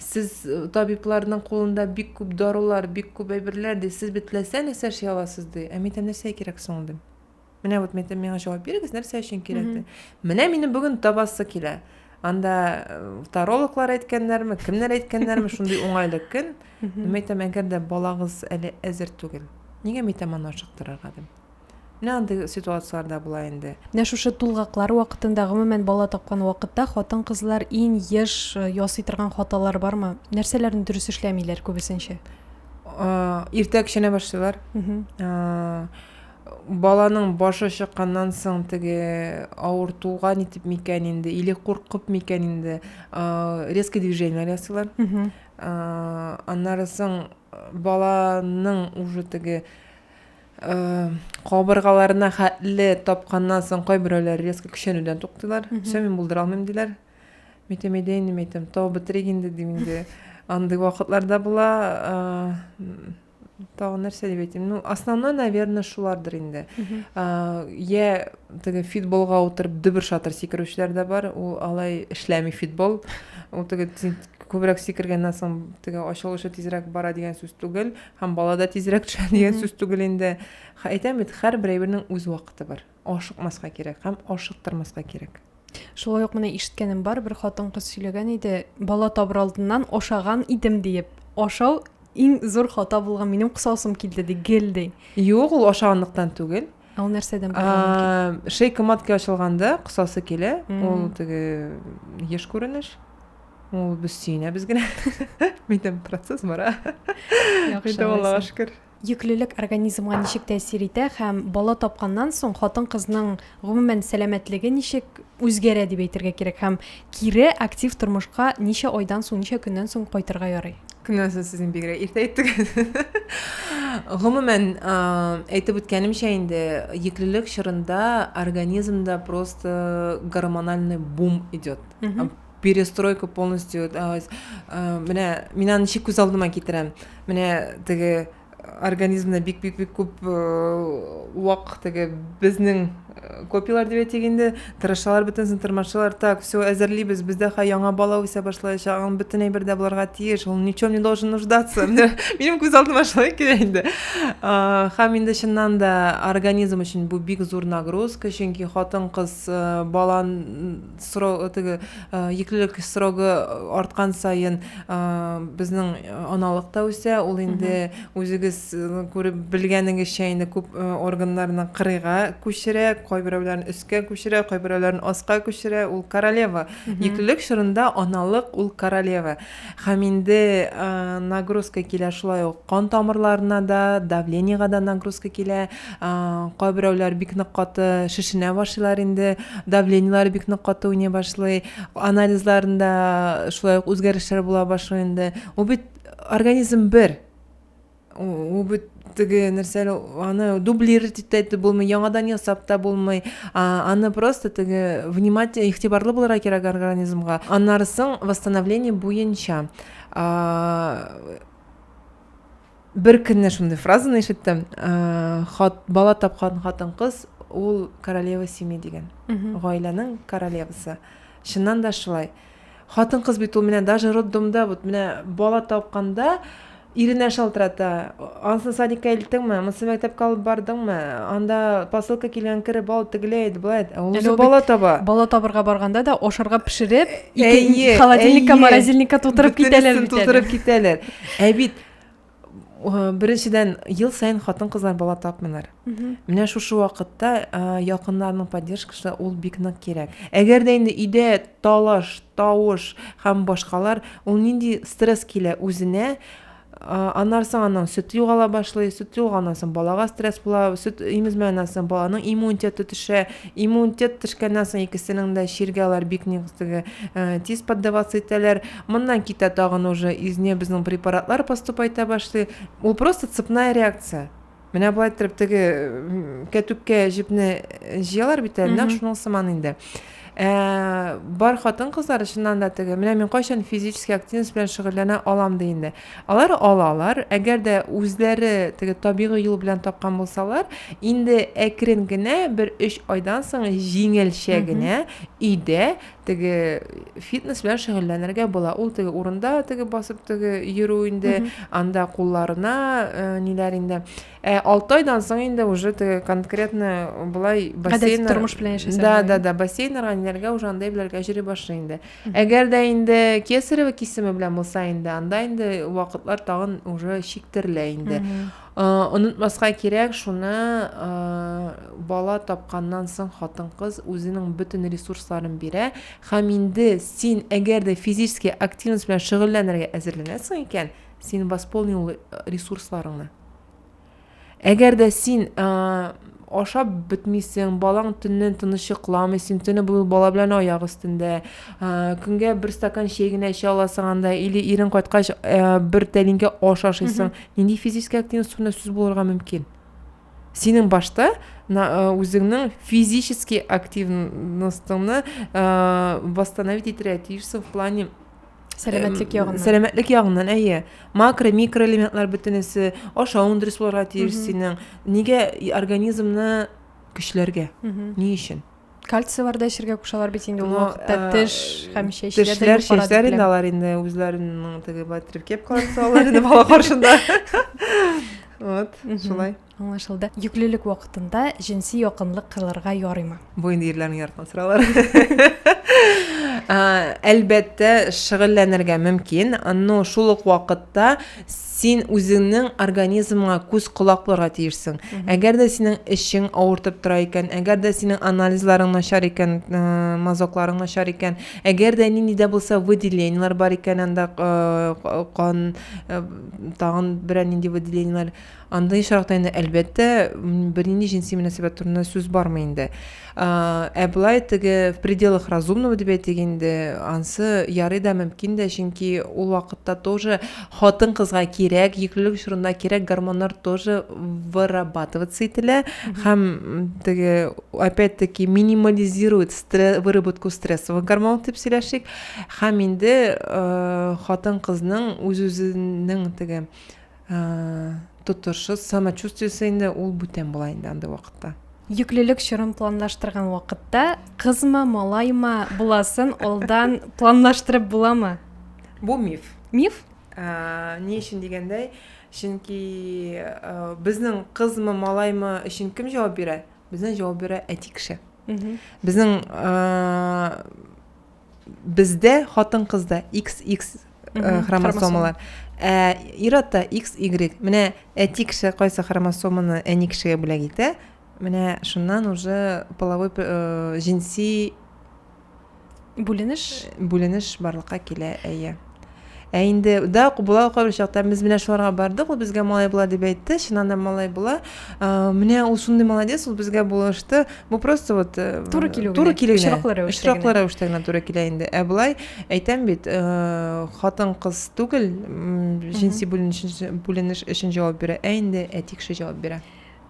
сез табибларның кулында бик күп дарулар, бик күп әйберләр ди, сез бит теләсә нәрсә эшли аласыз ди. Ә мин нәрсә кирәк соң ди? Менә вот мен миңа җавап бирегез, нәрсә өчен кирәк дип. Менә минем бүген табасы килә. Анда э, тарологлар әйткәннәрме, кемнәр әйткәннәрме, шундый уңайлы көн. Мин әйтәм, әгәр дә балагыз әле әзер түгел, нигә мин әйтәм аны ашыктырырга дип. Менә андый ситуацияләрдә була инде. Менә шушы тулгаклар вакытында, гомумән бала тапкан вакытта хатын-кызлар иң еш э, ясый торган хаталар бармы? Нәрсәләрне дөрес эшләмиләр күбесенчә? Иртә кечкенә башлыйлар. Баланың башы чыкканнан соң теге авыртуга нитеп микән инде, или куркып микән инде, резкий движение ясыйлар. Аннары соң баланың уже теге Э, кабыргаларына хәтле тапканнан соң кайберәүләр резко көчәнүдән туктыйлар все мин булдыра алмыйм диләр мен әйтәм әйдә инде мен әйтәм тау бетерик инде дим инде андый вакытлар да була э, тагын нәрсә дип әйтим ну основной наверное шулардыр инде йә теге фитболга утырып дөбер шатыр сикерүчеләр дә бар ул алай эшләми фитбол ул теге күбрәк сикергәннән соң теге ачылышы тизрәк бара дигән сүз түгел һәм бала да тизрәк төшә дигән сүз түгел инде әйтәм бит һәрбер әйбернең үз вакыты бар Ашыкмаска кирәк һәм ашыктырмаска кирәк. Шулай ук менә ишеткәнем бар, бер хатын-кыз сөйләгән иде, бала табыр алдыннан ашаган идем диеп. Ашау иң зур хата булган, минем косасым килде ди, гел ди. Юк, ул ашаганлыктан түгел. Ә ул нәрсәдән булган? Шейка матки ачылганда косасы килә, ул теге еш күренеш. Ул без сөенәбез генә. Минем процесс бара. Яхшы. Аллага шөкер. Йөклелек организмга ничек тәэсир итә һәм бала тапканнан соң хатын-кызның гомумән сәламәтлеге ничек үзгәрә дип әйтергә кирәк һәм кире актив тормышка ничә айдан соң, ничә көннән соң кайтырга ярый? Көннән соң сез инде бигрәк иртә әйттегез. Гомумән, әйтеп үткәнемчә инде, йөклелек чорында организмда просто гормональный бум идет. перестройка полностью менә мин аны ничек күз алдыма китерәм менә теге организмда бик бик бик күп вак теге безнең копиялар дип әйтик инде тырышалар бөтенесен тырмашалар так все әзерлибез бездә хә яңа бала үсә башлаячак аның бөтен әйбер дә булырга тиеш ул ничем не должен нуждаться минем күз алдыма шулай килә инде һәм инде чыннан да организм өчен бу бик зур нагрузка чөнки хатын кыз балан Срок, теге йөклелек срогы арткан саен безнең аналык та үсә. Ул инде үзегез күреп белгәнегезчә инде күп органнарны кырыйга күчерә, кайберәүләрен өскә күчерә, кайберәүләрен аска күчерә. Ул королева. Йөклелек чорында аналык ул королева. Һәм инде нагрузка килә шулай ук кан тамырларына да, давлениегә дә нагрузка килә. Кайберәүләр бик нык каты шешенә башлыйлар инде, давлениеләре бик нык каты уйный башлый, анализларында шулай ук үзгәрешләр була башлый инде. Ул бит организм бер. Ул бит теге нәрсә аны дублировать итә дә булмый, яңадан ясап та булмый. Аны просто теге внимательно, игътибарлы булырга кирәк организмга. Аннары соң восстановление буенча. Бер көнне шундый фразаны ишеттем. Хат бала тапкан хатын-кыз ул королева семьи дигән. Гаиләнең королевасы. Чыннан да шулай. Хатын кыз бит ул менә даже роддомда вот менә бала тапканда иренә шалтырата. Ансын садикка илттеңме? Монсы мәктәпкә алып бардыңмы? Анда посылка килгән, кереп ал, тегеләй әйт, болай әйт. Ә ул уже бала таба. Бала табырга барганда да ашарга пешереп, ике холодильникка, морозильникка тутырып китәләр бит. Тутырып китәләр. Ә бит беренчедән ел саен хатын кызлар бала тапмыйлар менә шушы вакытта якыннарның поддержкасы ул бик нык кирәк әгәр дә инде өйдә талаш тавыш һәм башкалар ул нинди стресс килә үзенә аннан соң аннан сөт югала башлый сөт югалганнан соң балага стресс була сөт имезмәгәннән соң баланың иммунитеты төшә иммунитет төшкәннән соң икесенең дә чиргә алар бик низ тиз поддаваться итәләр Моннан китә тагын уже изне безнең препаратлар поступайта башлый. Ул просто цепная реакция. Менә болай иттереп теге кәтүккә җепне җыялар бит әле, нәкъ шуның сыман инде. Ә, бар хатын-кызлар чыннан да теге, менә мин кайчан физический активность белән шөгыльләнә алам ди инде. Алар алалар, әгәр дә үзләре теге табигый юл белән тапкан булсалар, инде әкрен генә бер 3 айдан соң җиңелчә генә өйдә теге фитнес белән шөгыльләнергә була. Ул теге урында теге басып теге йөрү инде, анда кулларына э, ниләр инде. Ә 6 айдан соң инде уже теге конкретно булай бассейн тормыш белән яшәсәң. Да, да, да, бассейннарга ниләргә уже андай беләргә җире башлый инде. Әгәр дә инде кесарево кисеме белән булса инде, анда инде вакытлар тагын уже чиктерелә инде. Онытмаска кирәк шуны, бала тапканнан соң хатын-кыз үзенең бөтен ресурсларын бирә һәм инде син әгәр дә физически активность белән шөгыльләнергә әзерләнәсең икән, син восполнил ресурсларыңны. Әгәр дә син Ашап бетмисең, балаң төнне тыныч йокламый, син төне буе бала белән аяк өстендә. Көнгә бер стакан чәй генә эчә аласың анда, или ирең кайткач бер тәлинкә аш ашыйсың. Нинди физический активность турында сүз булырга мөмкин? Синең башта үзеңнең физический активностьны восстановить итәргә тиешсең в плане Сәламәтлек ягыннан. Сәламәтлек ягыннан, әйе. Макро, микроэлементлар бөтенесе, ашавың дөрес булырга тиеш синең. Нигә организмны көчләргә? Ни өчен? Кальцийлар да эчәргә кушалар бит инде ул вакытта теш һәм чәчләр. Тешләр, чәчләр инде алар инде үзләренең теге батрикеп калса алар инде бала каршында. Вот, шулай. Аңлашылды. Йөклелек вакытында җенси якынлык кылырга ярыймы? Бу инде ирләрнең яраткан сораулар. Әлбәттә, шөгыльләнергә мөмкин, но шул ук вакытта син үзеңнең организмыңа күз колак булырга тиешсең. Әгәр дә синең эчең авыртып тора икән, әгәр дә синең анализларың начар икән, э, мазокларың начар икән, әгәр дә нинди дә булса выделениелар бар икән анда э, кан, э, тагын берәр нинди выделениелар, Андый очракта инде, әлбәттә, бернинди җенси мөнәсәбәт турында сүз бармый инде. Ә былай теге в пределах разумного дип әйтик инде, ансы ярый да мөмкин дә, чөнки ул вакытта тоже хатын кызга кирәк, йөклелек чорында кирәк гормоннар тоже вырабатываться ителә һәм теге опять-таки минимализирует стресс, выработку стрессовых гормонов дип сөйләшик. Һәм инде хатын кызның үз-үзенең теге Тотышыз, самочувствиесе инде ул бүтән була инде андый вакытта. Йөклелек чорын планлаштырган вакытта кызмы, малаймы буласын алдан планлаштырып буламы? Бу миф. Миф? Ни өчен дигәндә, чөнки безнең кызмы, малаймы өчен кем җавап бирә? Безнең җавап бирә әти кеше. Безнең Бездә хатын-кызда XX э, хромосомалар. Ә ир-атта XY. Менә әти кеше кайсы хромосоманы әни кешегә бүләк итә, менә шуннан уже половой э, җинси бүленеш э, бүленеш барлыкка килә, әйе. Ә инде да була кайбер чакта без менә шуларга бардык, ул безгә малай була дип әйтте, чыннан да малай була. Менә ул шундый молодец, ул безгә булышты. Бу просто вот э, туры килү туры килү очраклы рәвештә генә туры килә инде. Ә болай әйтәм бит, э, хатын кыз түгел, җенси бүленеш өчен җавап бирә, ә инде әти кеше җавап бирә.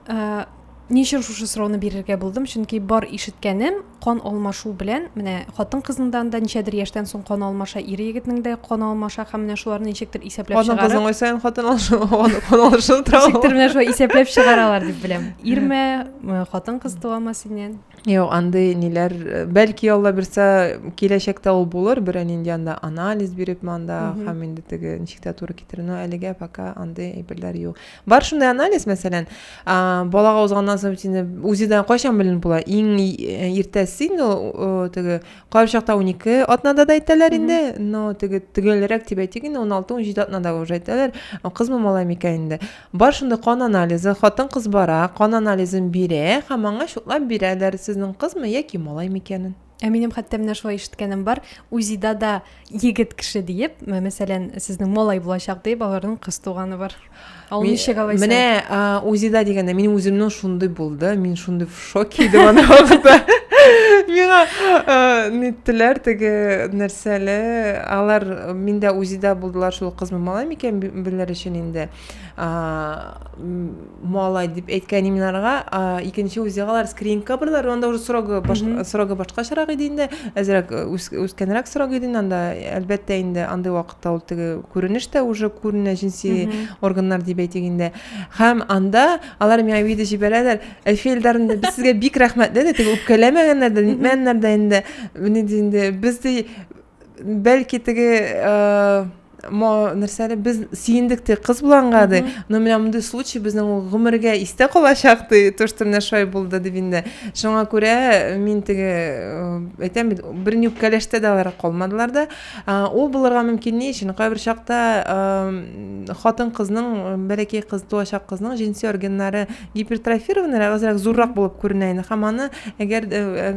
Ә, ни өчен шушы сорауны бирергә булдым? Чөнки бар ишеткәнем кан алмашу белән, менә хатын-кыздан да ничәдер яшьтән соң кан алмаша, ир егетнең дә кан алмаша һәм менә шуларны ничектер исәпләп чыгарып. Хатын-кызның исән хатын алмашу, кан алмашу тора. Ничектер менә шулай исәпләп чыгаралар дип беләм. Ирме, э, хатын-кыз туамы синнән? Юк, андый ниләр, э, бәлки Алла бирсә, киләчәктә ул булыр, берәр нинди анда анализ биреп манда һәм инде теге ничек тә туры китерүне әлегә пока андый әйберләр юк. бар шундай анализ мәсәлән балага узганнан соң бит инде узидан кайчан беленеп була иң э, иртәсе инде ул теге кайбер чакта унике атнада да әйтәләр инде но теге төгәлрәк дип әйтик инде уналты унҗиде атнада уже әйтәләр кызмы малай микән инде бар шундай кан анализы хатын кыз бара кан анализын бирә һәм аңа шутлап бирәләр сезнең кызмы яки малай микәнен Ә минем хәтта менә шулай ишеткәнем бар, УЗИда-да егет кеше диеп, мәсәлән, сезнең малай булачак диеп, аларның кыз туганы бар. Ал ничек алайса? Менә УЗИда дигәндә минем үземнең шундый булды, мин шундый в шоке идем аны вакытта. Миңа ниттеләр теге нәрсәле, алар миндә УЗИда булдылар, шул кызмы малай микән белер өчен инде. малай дип әйткән иминарга икенче үзе алар скринингка бардылар анда уже срогы срогы башкачарак иде инде әзерәк үскәнрәк срок иде инде анда әлбәттә инде андый вакытта ул теге күренеш тә уже күренә җенси органнар дип әйтик инде һәм анда алар миңа видео җибәрәләр әлфи элдарны да без сезгә бик рәхмәтле дә теге үпкәләмәгәннәр дә нитмәгәннәр дә инде менә инде без дә бәлки теге э, нәрсә әле без сөендек те кыз булганга ди но менә мондый случай безнең ул гомергә истә калачак ди то что менә шулай булды дип инде шуңа күрә мин теге э, әйтәм бит берни үпкәләштә дә алар калмадылар да ул булырга мөмкин ни өчен кайбер чакта э, хатын кызның бәләкәй кыз туачак кызның җенси органнары гипертрофированный әзрәк зуррак булып күренә инде һәм аны әгәр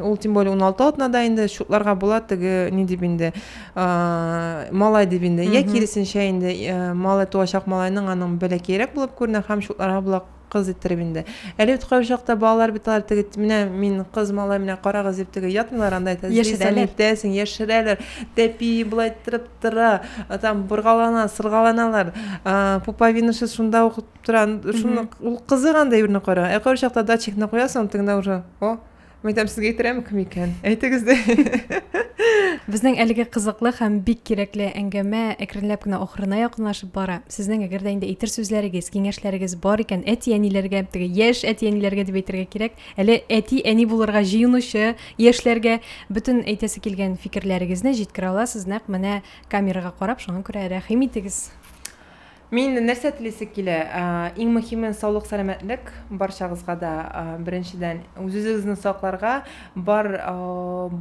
ул тем более уналты атнада инде шутларга була теге ни дип инде малай дип инде йә киресенчә инде малай туачак малайның аның бәләкәерәк булып күренә һәм шутларга була кыз иттереп инде әле үткән чакта балалар бит алар теге менә мин кыз малай менә карагыз дип теге ятмыйлар анда әйтәсең яшерәләр тәпи болай иттереп тора там боргалана сыргаланалар пуповинасы шунда ук тора шуны ул кызык андай берне кара ә кайбер чакта датчикны куясың тегендә уже о мәйтәм сезгә әйттерәме кем икән әйтегез дә безнең әлеге кызыклы һәм бик кирәкле әңгәмә әкренләп кенә ахырына якынлашып бара сезнең әгәр дә инде әйтер сүзләрегез киңәшләрегез бар икән әти әниләргә теге яшь әти әниләргә дип әйтергә кирәк әле әти әни булырга җыенучы яшьләргә бөтен әйтәсе килгән фикерләрегезне җиткерә аласыз нәкъ менә камерага карап шуңа күрә рәхим итегез Мин нәрсә телисе килә? Иң мөхиме саулык сәламәтлек барчагызга да беренчедән үзезегезне сакларга, бар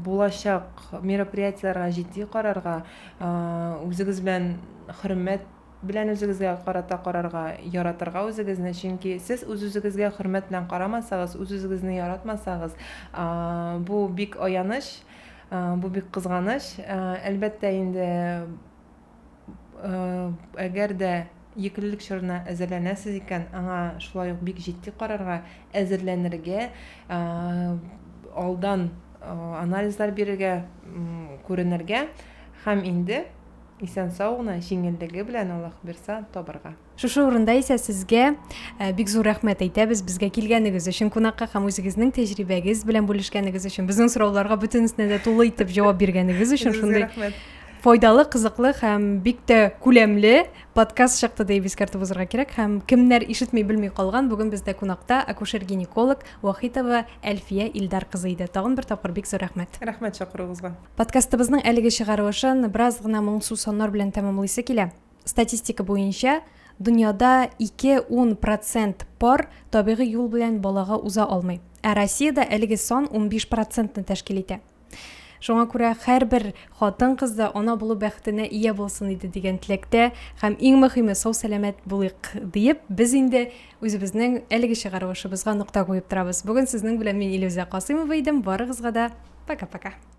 булачак мероприятиеләргә җитди карарга, үзегез белән хөрмәт белән үзегезгә карата карарга, яратырга үзегезне, чөнки сез үзезегезгә хөрмәт белән карамасагыз, үзезегезне яратмасагыз, бу бик аяныч, бу бик кызганыч, әлбәттә инде. Әгәр дә йөклелек чорына әзерләнәсез икән, аңа шулай ук бик җитди карарга, әзерләнергә, алдан анализлар бирергә, күренергә һәм инде исән-сау гына, җиңеллеге белән, Аллаһ бирса, табарга. Шушы урында исә сезгә э, бик зур рәхмәт әйтәбез безгә килгәнегез өчен кунакка һәм үзегезнең тәҗрибәгез белән бүлешкәнегез өчен, безнең сорауларга бөтенесенә дә тулы итеп җавап биргәнегез өчен шундый файдалы, кызыклы һәм бик тә күләмле подкаст чыкты дип искәртеп узарга кирәк һәм кемнәр ишетми белми калган бүген бездә кунакта акушер-гинеколог Вахитова Әлфия Илдар кызы иде. Тагын бер тапкыр бик зур рәхмәт. Рәхмәт чакыруыгызга. Подкастыбызның әлеге чыгарылышын бераз гына моңсу соннар белән тәмамлыйсы килә. Статистика буенча, дөньяда ике ун процент пар табигый юл белән балага уза алмый. Ә Россиядә әлеге сан унбиш процентны тәшкил итә. Шуңа күрә һәрбер хатын-кыз да ана булу бәхетенә ия булсын иде дигән теләктә һәм иң мөһиме сау-сәламәт булыйк диеп, без инде үзебезнең әлеге чыгарылышыбызга нокта куеп торабыз. Бүген сезнең белән мин Илүзә Касыймова идем. Барыгызга да пока-пока.